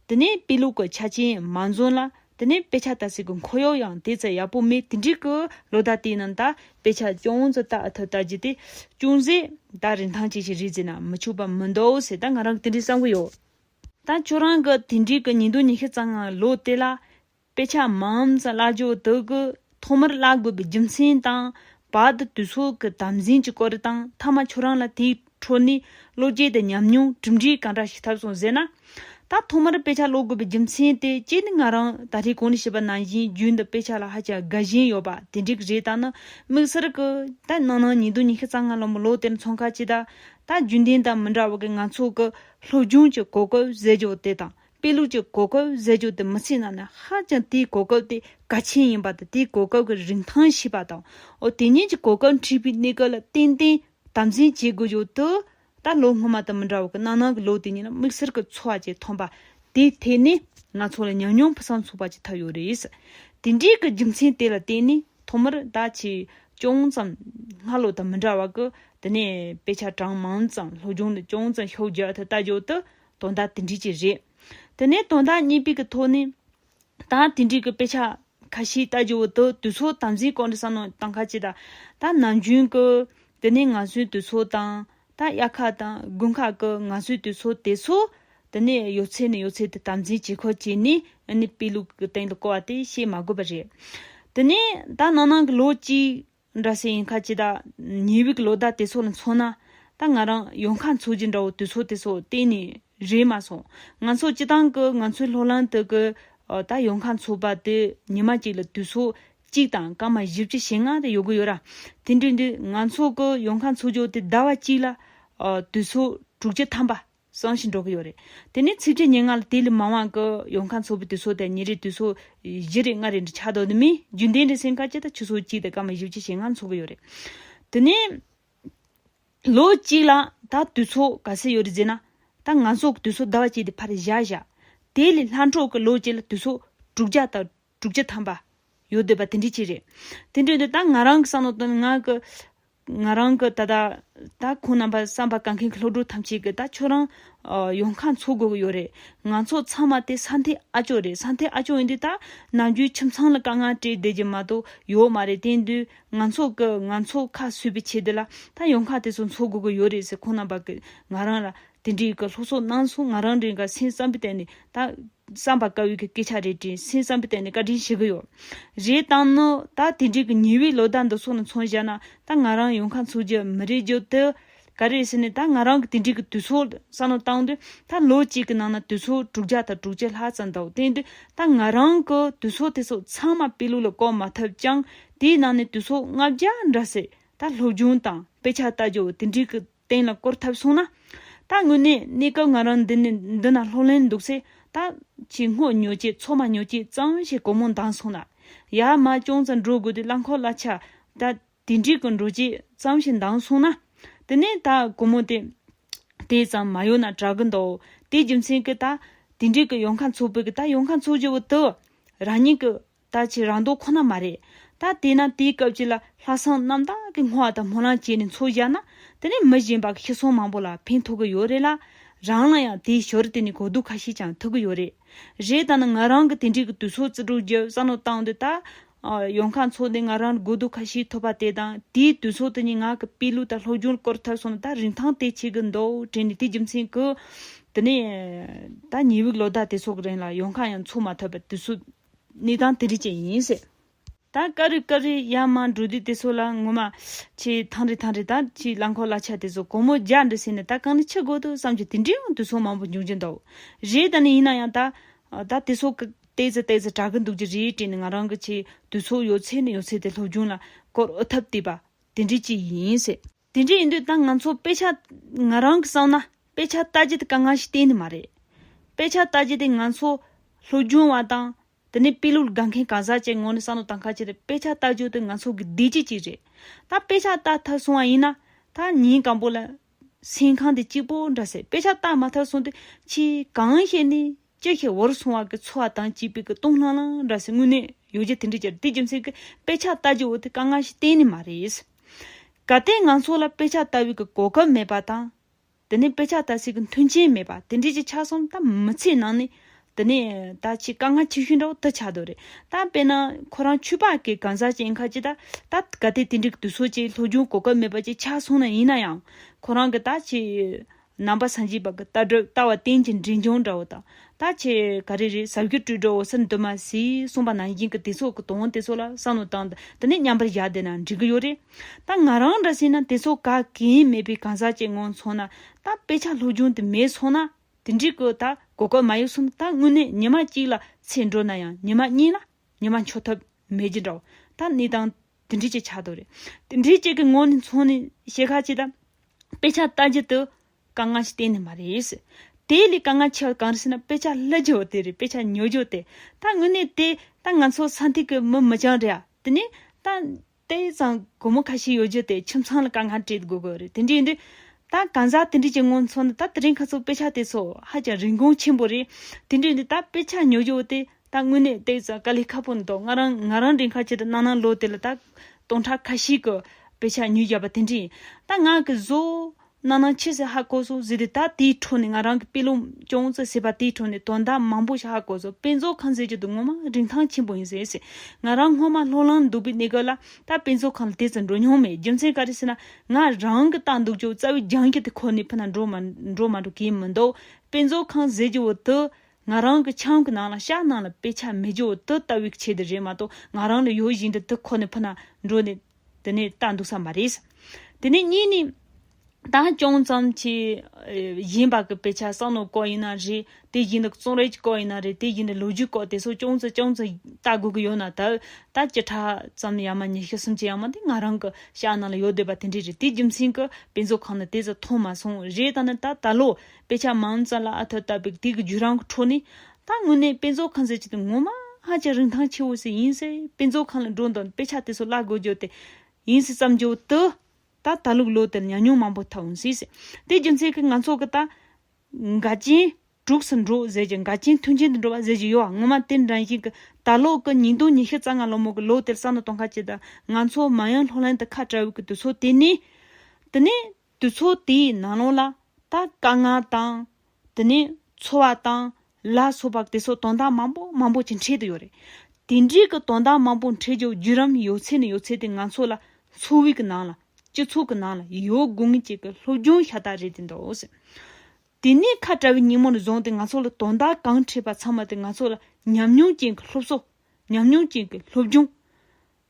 དེ་ནས་དཔེ་ལུགས་ཀྱི་ཆ་རྐྱེན་མ་འཛོམས་ལ་དེ་ནས་དཔེ་ཆ་ལྟ་ཚུལ་གྱི་འཁོར་ཡོག་ཡང་དེ་ཙམ་ཡག་པོ་མེད་དེ་འདྲི་གི་ལོ་ཟླ་དེའི་ནང་ད། དཔེ་ཆ་ཅུང་ཙམ་ལྟ་ཐུབ་ལྟ་རྒྱུ་དེ་ཅུང་ཟད་ད་རིན་ཐང་ཅིག་ཅིག་རེད་ཟེར་ན་མི་ཆུག་པ་མི་འདུག་ཟེར་ད་ང་རང་གི་དེ་འདྲི་བསམ་གྱི་ཡོད། ད་ཁྱོད་རང་གི་དེ་འབྲེལ་གྱི་ཉིན་ཐོ་ཉི་ཤུ་རྩ་ལྔ་ལོ་དེ་ལ་དཔེ་ཆ་མམས་བཀླག་བྱོས་དེ་གི་ཐོག་མར་བཀླག་དགོས་པའི་རྒྱུ་མཚན་དང། བར་དུ་དུས་ཚོད་ཀྱི་དམ་འཛིན་གྱི་སྐོར་དང་མཐའ་མ་ཁྱོད་རང་ལ་དེའི་འཕྲོ་ནས་བློ་སྐྱེད་དང་ཉམས་མྱོང་གྲུབ་འབྲས་གང་འདྲ་ཞིག་ཐབས་སོང་ཟེར་ན། ད་ཐོག་མར་དཔེ་ཆ་ཀློག་དགོས་པའི་རྒྱུ་མཚན་དེ་གཅིག་ནི་ང་རང་ད་ལྟའི་གོང་ནས་བཤད་པ་ནང་བཞིན་རྒྱུད་འདི་དཔེ་ཆ་ལ་ཧ་ཅང་དགའ་ཞེན་ཡོད་པ་དེ་འབྲེལ་གྱི་རེད་ད་ནི་དམིགས་བསལ་གྱི་ད་ནང་ན་ཉིན་ཐོ་ཉི་ཤུ་རྩ་ལྔ་ལོན་པའི་ལོ་དེར་མཚོན་ཁ་ཆེ་ད་ད་རྒྱུན་ལྡན་དང་མི་འདྲ་བ་གི་ང་ཚོ་གི་སློབ་སྦྱོང་གྱི་གོ་སྐབས་བཟད་འཇོག་དེ་དང་དཔེ་ལུགས་ཀྱི་གོ་སྐབས་བཟད་འཇོག་དེ་མི་ཚེའི་ནང་ནས་ཧ་ཅང་དེའི་གོ་སྐབས་དེ་གལ་ཆེན་ཡིན་པ་དང་དེའི་གོ་སྐབས་ཀྱི་རིན་ཐང་ཤེས་པ་དང། དེ་གཉིས་ཀྱི་གོ་སྐབས་འཁྲིད་པའི་གནས་སྐབས་ལ་ཏན་ཏན་དམ་འཛིན་བྱེད་དགོས་ཡོད་དོ། ད་ལོ་སྔོན་མ་དང་མི་འདྲ་བར་གནའ་ནང་གི་ལོ་དེ་ཉིད་ལ་དམིགས་བསལ་གྱི་འཚོ་བ་ཅིག་ཐོན་པ་དེའི་ཐད་ནས། ང་ཚོ་ལ་ཉམས་མྱོང་ཕུན་སམ་ཚོགས་པ་ཅིག་ཐོབ་ཡོད་རེད། དེ་འདྲའི་གི་རྒྱུ་མཚན་དེ་ལ་བརྟེན་ནས་ཐོག་མར་ད་ཆའི་ཅུང་ཙམ་སྔ་ལོ་དང་མི་འདྲ་བ་གི་དེ་ནས་དཔེ་ཆ་གྲངས་མང་ཙམ་སློབ་སྦྱོང་ནི་ཅུང་ཙམ་ཤོག་རྒྱག་ཐུབ་ལྟ་ཞོར་དུ་དོན་དག་དེ་འབྲི་གྱི་རེད། དེ་ནས་དོན་དག་གཉིས་པའི་གི་ཐོག་ནས་ད་དེ་འབྲི་གི་དཔེ་ཆ་ཁ་ཤས་ལྟ་ཞོར་དུ་དུས་ཚོད་དམ་འཛིན་གང་འདྲ་བསམ་ནོ་ད་ཁ་ཅིག་ད་ནམ་རྒྱུན་གི་དེ་ནས་ང་ཚོའི་དུས་ཚོད་དང་ད་དབྱར་ཁ་དང་དགུན་ཁ་གི་ང་ཚོའི་དུས་ཚོད་དེ་ཚོ། དེ་ནས་ཡོད་ཚད་ནས་ཡོད་ཚད་དུ་དམ་འཛིན་བྱེད་ཁུལ་བྱས་ནས་ནི་དཔེ་ལུགས་ཀྱི་སྟེང་དུ་བཀོལ་བ་དེ་བཤད་མ་དགོས་པ་རེད། དེ་ནས་ད་ནང་ནང་གི་ལོ་གཅིག་འདྲ་ཟེར་ཡིན་ཁ་ཅི་ད་ཉི་འོད་ཀྱི་ལོ་ཟླ་དེ་ཚོ་ལ་མཚོན་ན། ད་ང་རང་ཡོང་ཁ་འཚོགས་རྗེས་འདྲ་བོ་དུས་ཚོད་དེ་ཚོ་གཏན་ནས་རེད་མ་སོང། ང་ཚོ་སྤྱི་བཏང་གི་ང་ཚོའི་ལྷོ་ལམ་དུ་གི་ད་ཡོང་ཁ་འཚོགས་པ་དེ་ཉི་མ་གཅིག་ལ་དུས་ཚོད་གཅིག་དང་སྐར་མ་བཞི་བཅུ་ཞེ་ལྔ་དེ་ཡོད་གི་ཡོད་ར། དེ་འདྲའི་དུས་ང་ཚོ་གི་ཡོང་ཁ་འཚོགས་རྒྱུ་དེ་ཟླ་བ་གཅིག་ལ། དུས་ཚོད་དྲུག་བཅུ་ཐམ་པ། སོང་ཞིག་འགྲོ་གི་ཡོད་རེད། དེ་ནས་ཚིགས་བཅད་ཉེར་ལྔ་ལ་དེ་ལས་མང་བ་གི་ཡོང་ཁ་འཚོགས་པའི་དུས་ཚོད་དེ་ཉིན་རེའི་དུས་ཚོད་བཞི་རེ་ལྔ་རེ་འདྲ་ཆགས་འདུག་དེ་མིན་རྒྱུན་ལྡན་རེ་སེང་ག་གཅིག་དང་ཆུ་ཚོད་གཅིག་དེ་སྐར་མ་བཞི་བཅུ་ཞེ་ལྔ་འཚོགས་གི་ཡོད་རེད། དེ་ནས། ལོ་གཅིག་ལ་ད་དུས་ཚོད་ག་ཚད་ཡོད་རེད་ཟེར་ན། ད་ང་ཚོ་གི་དུས་ཚོད་ཟླ་བ་གཅིག་དེ་ཕར་བཞག་བཞག། དེ་ལས་ལྷ་འཕྲོག་གི་ལོ་གཅིག་ལ་དུས་ཚོད་དྲུག་བརྒྱ་དང། དྲུག་བརྒྱ་ཐམ་པ། ཡོད་འདོད་པ་དེ་འདྲི་གཅིག་རེད། དེ་འདྲི་འདོད་ད་ང་རང་གི་བསམ་བློ་དང་ང་གི། ང་རང་གི་ད་ལྟ། ད་ཁོང་རྣམ་པ་བསམ་པ་ག་མཁན་གི་སློབ་ཕྲུག་ཐམས་ཅད་ཀྱི་ད་ཁྱོད་རང། ཡོང་ཁ་འཚོ་དགོས་ཀྱི་ཡོད་རེད། ང་ཚོ་ཚང་མ་དེ་ས་མཐའི་ཨ་ཅོ་རེད་ས་མཐའི་ཨ་ཅོ་ཡིན་དུས་ད། ནམ་རྒྱུན་ཁྱིམ་ཚང་ལ་དཀའ་ངལ་སྤྲད་བསྡད་ཀྱི་མ་གཏོགས་ཡོད་མ་རེད་དེ་འདུས་ང་ཚོ་གི་ང་ཚོ་ཁ་སུས་པའི་ཆེད་དུ་ལ་ད་ཡོང་ཁ་དེ་ཚོ་འཚོ་དགོས་ཀྱི་ཡོད་རེད་ཟེར་ཁོང་རྣམ་པ་གི་ང་རང་ལ་དེ་འདྲི་གི་ལྷོ་སོ་གནང་སོང་ང་རང་རེ་འགའ་སེམས་བསམ་པའི་སྟེང་ནས་ད། བསམ་པ་བཀའ་བོད་ཀྱི་སྐད་ཆ་རེ་དྲིན་སེམས་བསམ་པའི་སྟེང་ནས་བཀའ་དྲིན་ཞུ་གི་ཡོད། རེད་བཏང་ནི་ད་དེ་འབྲེལ་གྱི་ཉི་འོད་ལོ་ཟླ་འདི་སོགས་ནས་མཚོན་བཞག་ན་ད་ང་རང་ཡོང་ཁ་འཚོལ་རྒྱུ་མི་རེད་རྒྱུ་དེ་ག་རེད་ཟེར་ནས་ད་ང་རང་གི་དེ་འབྲེལ་གྱི་དུས་ཚོད་བསམ་བློ་བཏང་དུས་ད་ལོ་གཅིག་གི་ནང་ན་དུས་ཚོད་དྲུག་བརྒྱ་དང་དྲུག་ཅུ་ལྷག་ཙམ་འདུག་དེ་འདྲའི་ད་ང་རང་གི་དུས་ཚོད་དེ་ཚོ་ཚང་མ་དཔེ་ལུགས་ལ་བཀོལ་མ་ཐུབ་ཀྱང་དེའི་ནང་ནས་དུས་ཚོད་ལྔ་བརྒྱ་འདྲ་ཟེར་ད་སློབ་སྦྱོང་དང་དཔེ་ཆ་བལྟ་རྒྱུ་དེ་འབྲེལ་གྱི་གཏན་ལ་བསྐོར་ཐབས་སོང་ན། ད་དངོས་གནས་གནས་སྐབས་ང་རང་འདི་ནས་འདི་ན་ལྷོག་ལེན་འདུག་ཚེ་ད། ཆེས་སྔོ་ཉོ་ཆེས་མཚོ་མ་ཉོ་ཆེས་གཙང་བོ་ཞེས་གོ་མོ་འདང་སོང་ན། ཡར་མར་ཅུང་ཙམ་འགྲོ་དགོས་ཏེ་རླངས་འཁོར་གླ་ཆ། ད། དེ་འགྲིག་གི་འགྲོ་ཆེས་གཙང་ཞེས་འདང་སོང་ན། དེ་ནས་ད་གོ་མོ་དེ། དེ་ཙམ་མ་ཡོང་ན་དྲག་གི་འདུག་དེའི་རྒྱུ་མཚན་གྱིས་ད། དེ་འགྲིག་གི་ཡོང་ཁ་འཚོ་ཕོད་ཀྱི་ད་ཡོང་ཁ་འཚོ་བྱེད་པོ་དེ། རང་ཉིད་ཀྱི། ད་ཅི་རང་མདོག་ཁོ་ན་མ་རེད། ད་དེས་ན་དེའི་སྐབས་ཀྱི་ལ་ལྷ་བསང་གནམ་དག་གི་སྔོ་བ་དང་སྨོན་ལམ་བྱས་ནས་འཚོ་བཞག་ན་དེ་ནས་མི་གཞན་པ་ཁྱི་སོང་མང་པོ་ལ་ཕན་ཐོགས་ཀྱི་ཡོད་རེད་ལ། རང་ལ་ཡང་དེའི་ཞོར་དེ་ནས་གོ་བསྡུར་ཁ་ཤས་ཀྱང་ཐུབ་ཀྱི་ཡོད་རེད། རེད་ད་ནི་ང་རང་གི་དེ་འབྲེལ་གྱི་དུས་ཚོད་བརྩི་སྒྲུག་རྒྱུ་བསམ་བློ་བཏང་དུས་ད། ཡོང་ཁ་འཚོགས་ནས་ང་རང་ལ་གོ་བསྡུར་ཁ་ཤས་ཐོབ་པ་དེ་དང་དེའི་དུས་ཚོད་དེ་ནས་ང་གི་དཔེ་ལུགས་དང་སློབ་སྦྱོང་སྐོར་ཐབས་སོང་ན་ད་རིན་ཐང་དེ་བྱེད་ཀྱི་འདུག་དྲན་ནས་དེའི་རྒྱུ་མཚན་གྱིས། དེ་ནས་ད་ཉི་འུག་ལོ་ཟླ་དེ་ཚོ་གི་རིང་ལ་ཡོང་ཁ་ཡང་འཚོགས་མ་ཐུབ་པར་དུས་ཚོད། ནི་དང་དི་རི་བཅས་ཡིན། ད་ཀ་རི་ཀ་རི་ཡ་མ་འབྲུ་དི་དི་སོགས་ལ་ངོ་མ། ཆེ་ཐང་རི་ཐང་རི་དང་ཆེ་རླངས་འཁོར་ལ་ཆ་དེ་ཚོ་གོང་མོ་རྒྱ་འདྲི་ཟེར་ནས་ད་གང་ནི་ཆི་དགོས་འདུག་བསམ་གྱི་དེ་འདྲའི་ཡང་དུས་སོགས་མང་པོ་འབྱུང་གྱི་འདུག་རེད་ད་ནི་ཡིན་ན་ཡང་ད། ད་དེ་སོགས་ཀྱི་ལྟས་ཙི་ལྟས་ཙི་གྲག་གི་འདུག་ཅི་རེད་དྲིས་ནས་ང་རང་གི་ཆེ་དུས་སོགས་ཡོད་ཚད་ནི་ཡོད་ཚད་དེ་སློབ་སྦྱོང་ལ་སྐོར་འུ་ཐབས་བལྟས་པ་དེ་འདྲའི་ཅི་ཡིན། དེ་འདྲ་ཡིན་དུས་ད་ང་ཚོ་དཔེ་ཆ། ང་རང་གིས་བསམ་ན་དཔེ་ཆ་ལྟ་རྒྱུ་དེ་དཀའ་ངལ་ཞིག་གཏན་ནས་མ་རེད། དཔེ་ཆ་ལྟ་རྒྱུ་དེ་ང་ཚོ། ལྷོ་རྒྱུན་བ་དང། དེ་ནས་དཔེ་ཀློག་དགའ་མཁན་གང་ཟག་བཅས་ངོ་ནས་བསམ་བློ་དང་ཁ་ཕྱིར་དཔེ་ཆ་ལྟ་རྒྱུ་དེ་ང་ཚོ་གི་བདེ་སྐྱིད་ཅིག་རེད། ད་དཔེ་ཆ་ལྟ་ཐར་སོང་བ་ཡིན་ན། ད་ཉིན་གང་པོ་ལ། སེམས་ཁང་དེ་གཅིག་པོ་འདྲ་ཟེར་དཔེ་ཆ་ལྟ་མ་ཐར་སོང་དུས་ཆེས་གང་ཤེས་ནི། ཅི་ཞིག་བོར་སོང་བ་གི་ཚོར་བ་དང་བྱིས་པའི་གི་སྟོང་ལྷང་ལྷང་འདྲ་ཟེར་དངོས་གནས་ཡོད་རྒྱུ་དེ་འདྲ་ཅི་རེད་དེ་རྒྱུ་མཚན་གི་དཔེ་ཆ་ལྟ་རྒྱུ་དེ་དཀའ་ངལ་ཞིག་གཏན་ནས་མ་རེད། ག་སྟེ་ང་ཚོ་ལ་དཔེ་ཆ་ལྟ་བུའི་གི་གོ་སྐབས་མེད་པ་དང། དེ་ནས་དཔེ་ཆ་ལྟ་སའི་གི་མཐུན་རྐྱེན་མེད་པ་དེ་འདྲའི་གི་ཆ་གསུམ་ད་མི་ཚེའི་ནང་ནས་དེ་ནས་ད་ཆེས་དཀའ་ངལ་ཆེ་ཤོས་འདྲ་བོ་དེ་ཆགས་འདུག་རེད་ད་དཔེར་ན་ཁོ་རང་ཆོས་པ་གི་གང་ཟག་ཅིག་ཡིན་ཁར་ཅིག་ད་ད་ག་སྟེ་དེ་འདྲའི་གི་དུས་ཚོད་ཅིག་ལྷོད་རྒྱུན་གོ་སྐབས་མེད་པ་ཅིག་ཆགས་སོང་ན་ཡིན་ན་ཡང་ཁོ་རང་གི་ད་ཆེས་རྣམ་པ་སངས་རྒྱས་པ་གི་ལྟ་གྲུབ་ལྟ་བ་རྟེན་གྱི་འབྲིང་ཆུང་འདྲ་བོ་དང་ལྟ་ཆེ་ག་རེ་རེ་ཟབ་རྒྱུ་སྤྲོས་གྲོགས་འོད་ཟེར་འདུན་མ་ཟེར་གསུངས་པ་ནང་བཞིན་གི་དེ་ཚོ་གི་དོན་དེ་ཚོ་ལ་བསམ་བློ་བཏང་སྟེ་འདི་ནས་མཉམ་པར་བཞག་བསྡད་ན་འགྲིག་གི་ཡོད་རེད་ད་ང་རང་འདྲ་བྱས་ན་དེ་ཚོ་ག་གེ་མེད་པའི་གང་ཟག་ཅིག་ངང་ཚོང་ན་ད་དཔེ་ཆ་ལྷུག་རྒྱུང་དེ་མེད་ཚོང་ན་དེ་འགྲིག་གི་ད་གོ་སྐབས་མ་ཡོད་གསུམ་ད་དངོས་གནས་ཉི་མ་གཅིག་ལ་ཚེ་འགྲོ་ན་ཡང་ཉི་མ་གཉིས་ལ་ཉི་མ་འཆོར་ཐབས་མེད་ཀྱི་འདྲ་བོ་ད་གནས་སྟངས། དེ་འབྲེལ་བཅས་ཆགས་འདུག་རེད། དེ་འབྲེལ་བཅས་ཀྱི་ངོས་ནས་མཚོན་ནས་ཞལ་ཁ་ཅིག་དང། དཔེ་ཆ་ལྟ་རྒྱུ་དེ་དཀའ་ངལ་ཞིག་གཏན་ནས་མ་རེད། དེ་ལས་དཀའ་ངལ་ཆེ་བ་གང་རེད་ཟེར་ན་དཔེ་ཆ་བསླུ་རྒྱུ་དེ་རེད་དཔེ་ཆ་ཉོ་རྒྱུ་དེ། ད་དངོས་གནས་དེ་ད་ང་ཚོ་ས་མཐོའི་གི་མི་མི་ཅང་རེད་ཨ། དེ་ནས་ད་དེ་ཙམ་སྒོར་མོ་ཁ་ཤས་ཡོད་རྒྱུ་དེ་ཁྱིམ་ཚང་ལ་དཀའ་ངལ་སྤྲད་དགོས་གི་རེད་དེ་འདྲས་ཡིན་དུས། ད་གང་ཟག་དེ་འདྲས་ཀྱི་ངོས་ནས་མཚོན་ན་ད་དེ་རིང་ག་ཚོད་དཔེ་ཆ་དེ་ཚོ་ཧ་ཅང་རིན་གོང་ཆེན་པོ་རེད། དེ་འདྲས་ཡིན་དུས་ད་དཔེ་ཆ་ཉོ་རྒྱུ་དེ་ད་དངོས་གནས་བལྟས་ཙང་དཀའ་ལས་ཁག་པོ་འདུག་ང་རང་ང་རང་རེ་འཁར་བྱེད་དུ་གནང་གནང་ལོ་དེ་ལ་ད་སྟོང་ཕྲག་ཁ་ཤིག་གི་དཔེ་ཆ་ཉོས་བཞག་པ་དེ་འདྲས་ཡིན་ད་ང་གི་བཟོ་གནང་གནང་ཆེ་ཟེར་ཧ་གོ་སོང་ཟེར་དུས་ད་དེའི་འཕྲོ་ནས་ང་རང་གི་དཔེ་ལུང་ཅུང་ཙི་ཟེར་བ་དེའི་འཕྲོ་ནས་དོན་དག་མང་པོ་ཞིག་ཧ་གོ་སོང་དཔེ་མཛོད་ཁང་ཟེར་གྱི་འདུག་ངོ་མ་རིན་ཐང་ཆེན་པོ་ཡིན་ཟེར་ཟེར་ང་རང་སྔོན་མ་ལྷོ་ལྷང་འདུག་པའི་གནས་སྐབས་ལ་ད་དཔེ་མཛོད་ཁང་ལ་དེ་ཙམ་འགྲོ་མྱོང་མེད་རྒྱུ་མཚན་ག་རེ་ཟེར་ན་ང་རང་གི་ལྟ་འདུག་ཅུང་རྩ་བའི་རྒྱང་ཁྱི་དེ་ཁོ་ནའི་ཕུ་ན་འགྲོ་མ་འགྲོ་གས་མི་འདུག་དཔེ་མཛོད་ཁང་ཟེར་གྱི་འོག་ཏུ་ང་རང་གི་ཆང་གི་ནང་ལ་ཤ་ནང་ལ་དཔེ་ཆ་མི་འཇོག་དེ་ལྟ་བུའི་ཆེད་དུ་རེད་མ་གཏོགས་ང་རང་ལ་ཡོད་བཞིན་དུ་དེ་ཁོ་ནའི་ཕུ་ན་འགྲོ་ནས་དེ་ནས་ལྟ་འདུག་ས་མ་རེད། དེ་ནས་གཉིས་ནི། ད་ཅུང་ཙམ་གྱིས། གཞན་པ་གི་དཔེ་ཆ་བསམ་བློའི་སྐོར་ཡིན་ན་རེད་དེ་བཞིན་དུ་རྩོམ་རིག་གི་སྐོར་ཡིན་ན་རེད་དེ་བཞིན་དུ་ལོ་རྒྱུས་སྐོར་དེ་ཚོ་ཅུང་ཙི་ཅུང་ཙི་ལྟ་དགོས་ཀྱི་ཡོད་ན་ད་ད་བཅུ་ཕྲག་ཙམ་ཡང་མ་ཉི་ཤུ་སུམ་ཅུ་ཡང་མ་འདས་ང་རང་གི་ཤ་ནང་ལ་ཡོད་སྡོད་པ་དེ་འདྲས་རེད་དེའི་རྒྱུ་མཚན་གྱིས་དཔེ་མཛོད་ཁང་ནས་དེ་ཚོ་མཐོང་མ་སོང་རེད་ད་ནི་ད་ད་ལོ་དཔེ་ཆ་མང་ཙམ་ལ་ཨ་ཐི་ལྟ་བུའི་དེ་གི་བརྒྱུད་རང་གི་འཕྲོ་ནས། ད་དངོས་གནས་དཔེ་མཛོད་ཁང་ཟེར་གྱི་དེ་ངོ་མ་ཧ་ཅང་རིན་ཐང་ཆེ་བོ་ཞིག་ཡིན་སྲིད་དཔེ་མཛོད་ཁང་ལ་འགྲོ་དང་དཔེ་ཆ་དེ་ཚོ་བཀླག་དགོས་རྒྱུ་དེ་ཡིན་སྲིད་བསམ་རྒྱུ་དུ། ད་ད་ལུག་ལོ་དེར་ཉམས་མྱོང་མང་པོ་ཐོབ་འོང་སྲིད། དེའི་རྒྱུ་མཚན་གྱི་ང་ཚོ་གི་ད། འགའ་རྐྱེན་དྲུགས་སུ་འགྲོ་ཟེར་གྱི་འགའ་རྐྱེན་མཐུན་རྐྱེན་དུ་འགྲོ་བ་ཟེར་གྱི་ཡོད་ངོ་མ་དེ་འདྲ་ཞིག་གི་ད་ལོ་གི་ཉིས་སྟོང་ཉི་ཤུ་རྩ་ལྔ་ལོ་མོ་གི་ལོ་དེར་ས་ནོ་སྟོང་ཁ་ཅིག་དང་ང་ཚོ་མ་ཡང་ལྷོ་ལྷན་དུ་ཁ་བྲལ་བའི་གི་དུས་ཚོད་དེ་ནས། དེ་ནས་དུས་ཚོད་དེའི་ནང་ལོགས་ལ་ད་དཀའ་ངལ་དང། དེ་ནས་འཚོ་བ་དང། ལ་སོགས་པ་དེ་སོགས་དོན་དག་མང་པོ་མང་པོ་ཅིག་འཕྲད་དུ་ཡོད་རེད། དེ་འདྲའི་གི་དོན་དག་མང་པོ་འཕྲད་རྒྱུ་བརྒྱུད་རམ་ཡོད་ཚད་ནས་ཡོད་ཚད་དེ་ང་ཚོ་ལ་འཚོ་བའི་གི་ནང་ལ་སྤྱི་ཚོགས་གི་ནང་ལ་ཡོད་དགོས་ངེས་ཅིག་གི་སློབ་སྦྱོང་ཤ་སྟག་རེད་དེ་འདུག་ཟེར། དེ་ནས་ཁ་བྲལ་བའི་ཉིན་མོ་ནས་བཟུང་སྟེ་ང་ཚོ་ལ་དོན་དག་གང་འཕྲད་པ་ཚང་མ་དེ་ང་ཚོ་ལ་ཉམས་མྱོང་ཅན་གྱི་སློབ་གསོ། ཉམས་མྱོང་ཅན་གྱི་སློབ་སྦྱོང།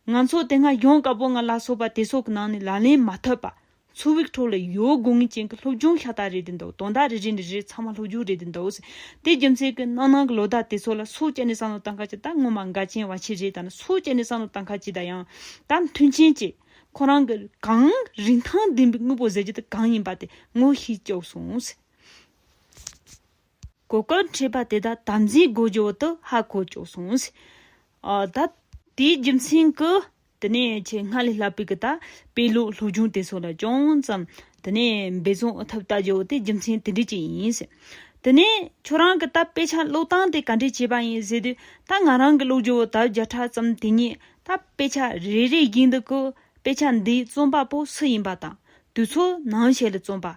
ང་ཚོ་དེ་སྔ་ཡོང་དཀའ་པོ་ང་ལ་སོགས་པ་དེ་སོག་གི་ནང་ནས་ལ་ལན་མ་ཐོབ་པ། ཚུར་བིག་ཐྲོ་ལ་ཡོའོ་དགོ་ངེས་ཅན་གི་སློབ་སྦྱོང་ཤ་སྟག་རེད་དེ་འདུག་དོན་དག་རེ་རེ་འདི་རེ་ཚང་མ་སློབ་སྦྱོང་རེད་དེ་འདུག་ཟེར། དེ་རྒྱུ་མཚན་གི་ནང་ནང་གི་ལོ་ཟླ་དེ་ཚོ་ལ་སོག་སྐྱ་ནི་བསམ་བློ་བཏང་ཁ་ཅི་ད་སྔོན་མ་འགའ་ཅན་བ་ཆེ་རེད་ད་ནི་སོག་སྐྱ་ནི་བསམ་བློ་བཏང་ཁ་ཅི་ད་ཡང་ད་མཐུན་ཆེན་གཅེས། ཁོ་རང་གི་གང། རིན་ཐང་ལྡན་པའི་དངོས་པོ་ཟེར་རྒྱུ་དེ་གང་ཡིན་པ་དེ་ངོ་ཤེས་བཅུག་སོང། གོ་སྐབས་འཕྲད་པ་དེ་དག་དམ་འཛིན་སྒོ་འབྱེད་དུ་ཧ་གོ་ཆོག་གསུངས། ད། དེའི་རྒྱུ་མཚན་གྱིས། དེ་ནས་ཆེས་སྔ་ལས་སླ་པོའི་གི་ད་པའི་ལུགས་སློབ་སྦྱོང་དེ་སོགས་ལ་ཅུང་ཙམ་དེ་ནས་འབད་བརྩོན་ཨུ་ཐུབ་ལྟ་བྱེད་འོ་དེ་རྒྱུ་མཚན་དེ་འདྲས་ཅིག་ཡིན། དེ་ནས་ཁྱོད་རང་གི་ད་པའི་ཆ་ལུགས་སྟངས་དེ་ག་འདྲས་བྱས་པ་ཡིན་ཟེར་དུས་ད་ང་རང་གི་ལུགས་སྦྱོར་བ་ད་བརྒྱ་ཕྲག་ཙམ་དེ་ཉིད་ད་པའི་ཆ་རེ་རེའི་རྒྱུན་དུ་གི་པའི་ཆ་འདིའི་རྩོམ་པ་པོ་སུ་ཡིན་པ་དང་དུས་ཚོད་ནང་ཞིག་ལ་རྩོམ་པ་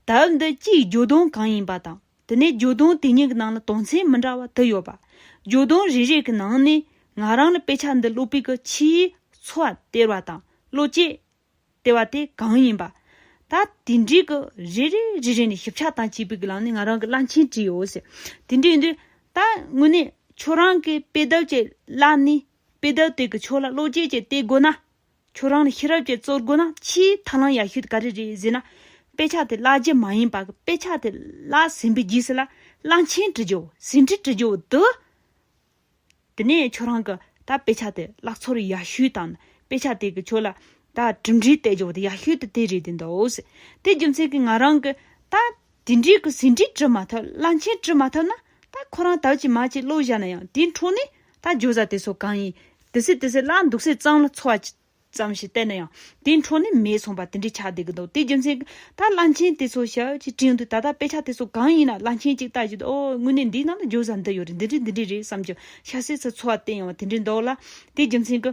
དག་འདི་སྤྱིའི་རྒྱུ་དོན་གང་ཡིན་པ་དང་དེ་ནས་རྒྱུ་དོན་དེ་གཉིས་ཀྱི་ནང་ལ་དོན་ཚན་མི་འདྲ་བ་དུ་ཡོད་པ། རྒྱུ་དོན་རེ་རེ་གི་ནང་ནས་ང་རང་ལ་དཔེ་ཆ་འདི་ཀློག་པའི་གི་ཆེའི་འཚོ་བ་སྟེར་བ་དང་བློ་བསྐྱེད་སྟེར་བ་དེ་གང་ཡིན་པ། ད་དེ་འདྲའི་གི་རེ་རེ་རེ་རེ་ནས་ཞིབ་ཆ་དང་བཅས་པའི་གི་ལང་ནས་ང་རང་གི་བླ་མཆན་བྲིས་ཡོད་ཟེར། དེ་འདྲས་ཡིན་དུས་ད་དངོས་གནས་ཁྱོད་རང་གི་དཔེ་དེབ་ཀྱི་བླ་ནས་དཔེ་དེབ་དེ་གི་ཆོག་ལ་བློ་བསྐྱེད་ཀྱི་སྟེར་དགོས་ན་ཁྱོད་རང་ལ་ཤེས་རབ་ཀྱི་གཙོར་དགོས་ན་ཕྱིའི་ཐ་སྣང་ཡག་ཤོས་དེ་ག་རེ་རེད་ཟེར་ན། དཔེ་ཆ་དེ་བཀླགས་རྗེས་མ་ཡིན་པར་དཔེ་ཆ་དེ་བཀླགས་ཟིན་པའི་རྗེས་སུ་ལ་གླང་ཆེན་དྲི་བྱའོ་ཟིན་བྲིས་དྲི་བྱའོ་དེ། དེ་ནས་ཁྱོད་རང་གིས་ད་དཔེ་ཆ་དེ་བཀླགས་ཚོར་ཡག་ཤོས་དང་དཔེ་ཆ་དེ་གི་ཁྱོད་ལ་ད་གྲུབ་འབྲས་བལྟས་བྱའོ་དེ་ཡག་ཤོས་དེ་དེ་རེད་དེ་འདོད། དེ་རྒྱུ་མཚན་གྱིས་ང་རང་གིས་ད་དེ་འདྲའི་གི་ཟིན་བྲིས་བྲི་མ་ཐུབ་བླ་མཆན་བྲི་མ་ཐུབ་ན་ད་ཁོ་རང་དག་ཅིག་མ་ཅིག་བློ་བཞག་ན་ཡང་དེའི་འཕྲོ་ནས་ད་ཇོ་བཟའ་དེ་ཚོ་གང་ཡིན་དེ་སྲིད་དེ་སྲིད་བླ་འདུག་སའི་གཙང་ལ་འཚོ་བ་ཅི་ཙམ་ཞིག་བསྟན་ན་ཡང་དེའི་འཕྲོ་ནས་མེད་སོང་བ་དེ་འདྲའི་ཆགས་བསྡད་གི་འདུག་དེའི་རྒྱུ་མཚན་གི་ད་བླ་མཆན་དེ་ཚོ་ཞབས་ཅིག་བྲིས་འདུག་ད་ད་དཔེ་ཆ་དེ་ཚོ་གང་ཡིན་ན་བླ་མཆན་ཅིག་བཏགས་ཀྱི་འདུག་ཨོ་དངོས་གནས་འདིའི་ནང་དུ་ཇོ་བཟའ་འདི་ཡོད་རེད་འདི་འདྲས་འདི་འདྲས་རེད་བསམ་ཀྱང་ཤ་སའི་ཚུལ་འཚོ་བ་བསྟན་ཡོང་བ་དེ་འདྲས་འདུག་ལ་དེའི་རྒྱུ་མཚན་གི།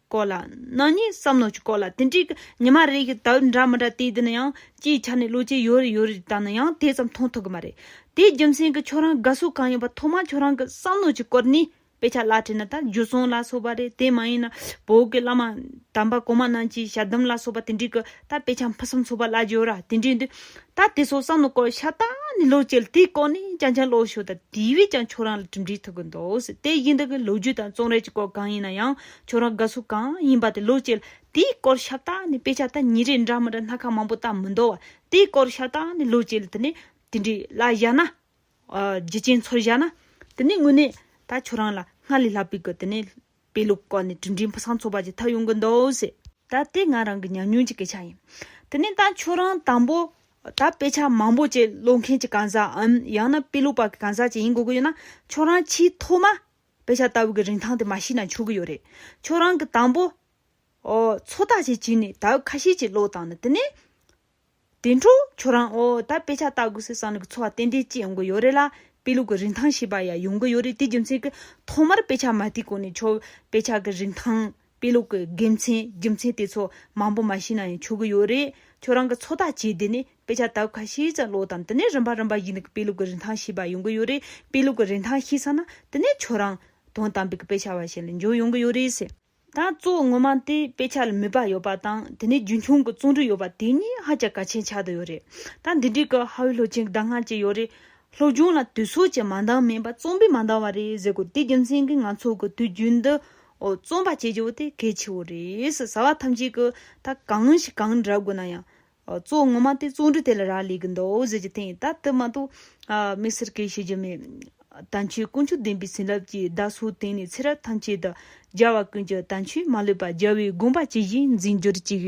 སྐོར་ལ། ནག་ཉེས་བསམ་མནོ་གྱི་སྐོར་ལ་དེ་འདྲའི་ཉི་མ་རེ་ཡི་དྭགས་འདྲ་མི་འདྲ་དེ་དེ་ནི་ཡང་སྤྱིའི་ཆ་ནས་ལོ་ཆས་ཡོད་རེ་ཡོད་རེ་ད་ནི་ཡང་དེ་ཙམ་མཐོང་ཐུབ་གི་མ་རེད། དེའི་རྒྱུ་མཚན་གྱི་ཁྱོད་རང་དགའ་བསུ་གང་ཡིན་པ་ཐོག་མར་ཁྱོད་རང་གི་བསམ་མནོ་གྱི་སྐོར་ནི་དཔེ་ཆ་བླ་བྲེ་ན་ད་རྒྱུ་སོང་ལ་སོགས་པ་རེད་དེ་མ་ཡིན་ན་བོད་ཀྱི་བླ་མ་དམ་པ་གོང་མ་རྣམས་ཀྱིས་ཞལ་གདམས་ལ་སོགས་པ་དེ་འདྲའི་གི་ད་དཔེ་ཆ་ཕུན་སུམ་ཚོགས་པ་བླ་འགྱུར་ར་དེ་འདྲའི་འདུག་ད་དེ་སོགས་བསམ་མནོ་སྐོར་ཤ་སྟག་ནི་ལོ་བཅལ་དེའི་སྐོར་ནི་རྐྱང་རྐྱང་ཀློག་ཞོར་ད་དེ་བས་ཀྱང་ཁྱོད་རང་ལ་གྲུབ་འབྲས་ཐུབ་གི་འདུག་དེ་བཞིན་དག་གི་ལོ་རྒྱུས་དང་རྩོམ་རེག་གི་སྐོར་གང་ཡིན་ན་ཡང་ཁྱོད་རང་དགའ་སུ་གང་ཡིན་པ་དེ་ལོས་བྱེད། དེའི་སྐོར་ཤ་སྟག་ནས་དཔེ་ཆ་ད་ཉིན་རེ་འདྲ་མི་འདྲ་སྣ་ཁ་མང་པོ་ལྟ་མི་འདོད་བ། དེའི་སྐོར་ཤ་སྟག་ནས་ལོས་བྱེད་དེ་ནས་དེ་འདྲའི་ལ་བཞག་ན། རྒྱུ་ཅན་ཚོར་བཞག་ན། དེ་ནས་དངོས་གནས་ད་ཁྱོད་རང་ལ་སྔར་ལས་ལྷག་པའི་གི་དེ་ནས། དཔེ་ཀློག་སྐོར་ནས་དྲིན་དྲན་ཕུགས་བསམ་ཚོར་བ་ཅིག་ཐག་ཡོང་གི་འདུག་ཟེར། ད་དེ་ང་རང་གི་ཉམས་མྱོང་གྱི་སྐད་ཆ་ཡིན། དེ་ནས་ད་ཁྱོད་རང་དང་པོ། ད་དཔེ་ཆ་མང་པོ་བཅས་ཀློག་མཁན་གྱི་གང་ཟག་འམ་ཡང་ན་དཔེ་ཀློག་པ་གི་གང་ཟག་ཅིག་ཡིན་དགོས་ཀྱི་ཡོད་ན། ཁྱོད་རང་ཆེས་ཐོག་མ། དཔེ་ཆ་ལྟ་བུ་གི་རིན་ཐང་དེ་མ་ཤེས་ན་ཆོག་གི་ཡོད་རེད། ཁྱོད་རང་གི་དང་པོ། ཨོ། ཚོ་ཐག་ཅིག་བྱིན་ནས་ད་ཁ་ཤས་ཀྱི་བློ་བཏང་ན་དེ་ནས། དེ་འཕྲོ་ཁྱོད་རང་ཨོ་ད་དཔེ་ཆ་ལྟ་དགོས་སེ་བསམ་ནས་གི་ཚོ་བ་ཏན་ཏན་སྐྱེ་ཡོང་གི་ཡོད་རེད་ལ་དཔེ་ལུགས་གི་རིན་ཐང་ཤེས་པ་ཡང་ཡོང་གི་ཡོད་རེད་དེ་རྒྱུ་མཚན་གི་ཐོག་མར་དཔེ་ཆ་མ་ལྟས་གོང་ནས་ཁྱོད་དཔེ་ཆ་གི་རིན་ཐང། དཔེ་ཀློག་གི་དགེ་མཚན་རྒྱུ་མཚན་དེ་ཚོ་མང་པོ་མ་ཤེས་ན་ཡང་ཆོག་གི་ཡོད་རེད། ཁྱོད་རང་གི་ཚོགས་ཐག་བཅད་དེ་ནས་དཔེ་ཆ་ལྟ་ཁ་ཤས་ཙམ་ཀློག་དང་དེ་ནས་རིམ་པ་རིམ་པ་བཞིན་གྱི་དཔེ་ཀློག་གི་རིན་ཐང་ཤེས་པ་ཡོང་གི་ཡོད་རེད། དཔེ་ཀློག་གི་རིན་ཐང་ཤེས་ས་ན་དེ་ནས་ཁྱོད་རང། དོན་དམ་པའི་དཔེ་ཆ་བ་ཞིག་ལ་འགྱུར་ཡོང་གི་ཡོད་རེད། ད་གཙོ་བོ་ངོ་མ་དེ་དཔེ་ཆ་ལ་མོས་པ་ཡོད་པ་དང་དེ་ནས་རྒྱུན་འཁྱོངས་ཀྱི་བརྩོན་འགྲུས་ཡོད་པ་དེ་གཉིས་ཧ་ཅང་གལ་ཆེན་ཆགས་བསྡད་ཡོད་རེད། ད་འདི་འདྲའི་སྐབས་ཧྭ་ཝུའི་ལྷོ་ཆེན་གྱི་ཟླ་སྔ་ཅིག་ཡོད་རེད། སློབ་སྦྱོང་ལ་དུས་ཚོད་ཀྱི་མ་འདང་མིན་པ་རྩོམ་པས་མ་འདང་བ་རེད་ཟེར་དགོས་དེ་རྒྱུ་མཚན་གྱིས་ང་ཚོ་གི་དུས་རྒྱུན་འདི། འོ་རྩོམ་པ་གཅིག་བྱེད་པོ་དེ་གལ་ཆེ་བོ་རེད། བྱ་བ་ཐམས་ཅད་ཀྱི་ད་གང་ཞིག་གང་འདྲ་དགོས་ན་ཡང། གཙོ་བོ་ངོ་མ་དེ་བཙོན་འགྲུལ་དེ་ལ་རག་ལས་ཀྱི་འདུག་བཟོད་ཀྱི་ཐེངས་ད་དུ་མ་གཏོགས། མི་སེར་སྐད་ཤེས་ཀྱི་མེད། ད་ཆོས་ཀུན་ཆོས་ལྡན་པའི་བྱིན་རླབས་ཀྱིས་བདག་སོགས་དེང་ནས་ཚེ་རབས་ཐམས་ཅད་དུ། རྒྱལ་བ་ཀུན་གྱི་དམ་ཆོས་མ་ལུས་པ་རྒྱལ་བའི་དགོངས་པ་ཇི་བཞིན་འཛིན་གྱུར་ཅིག།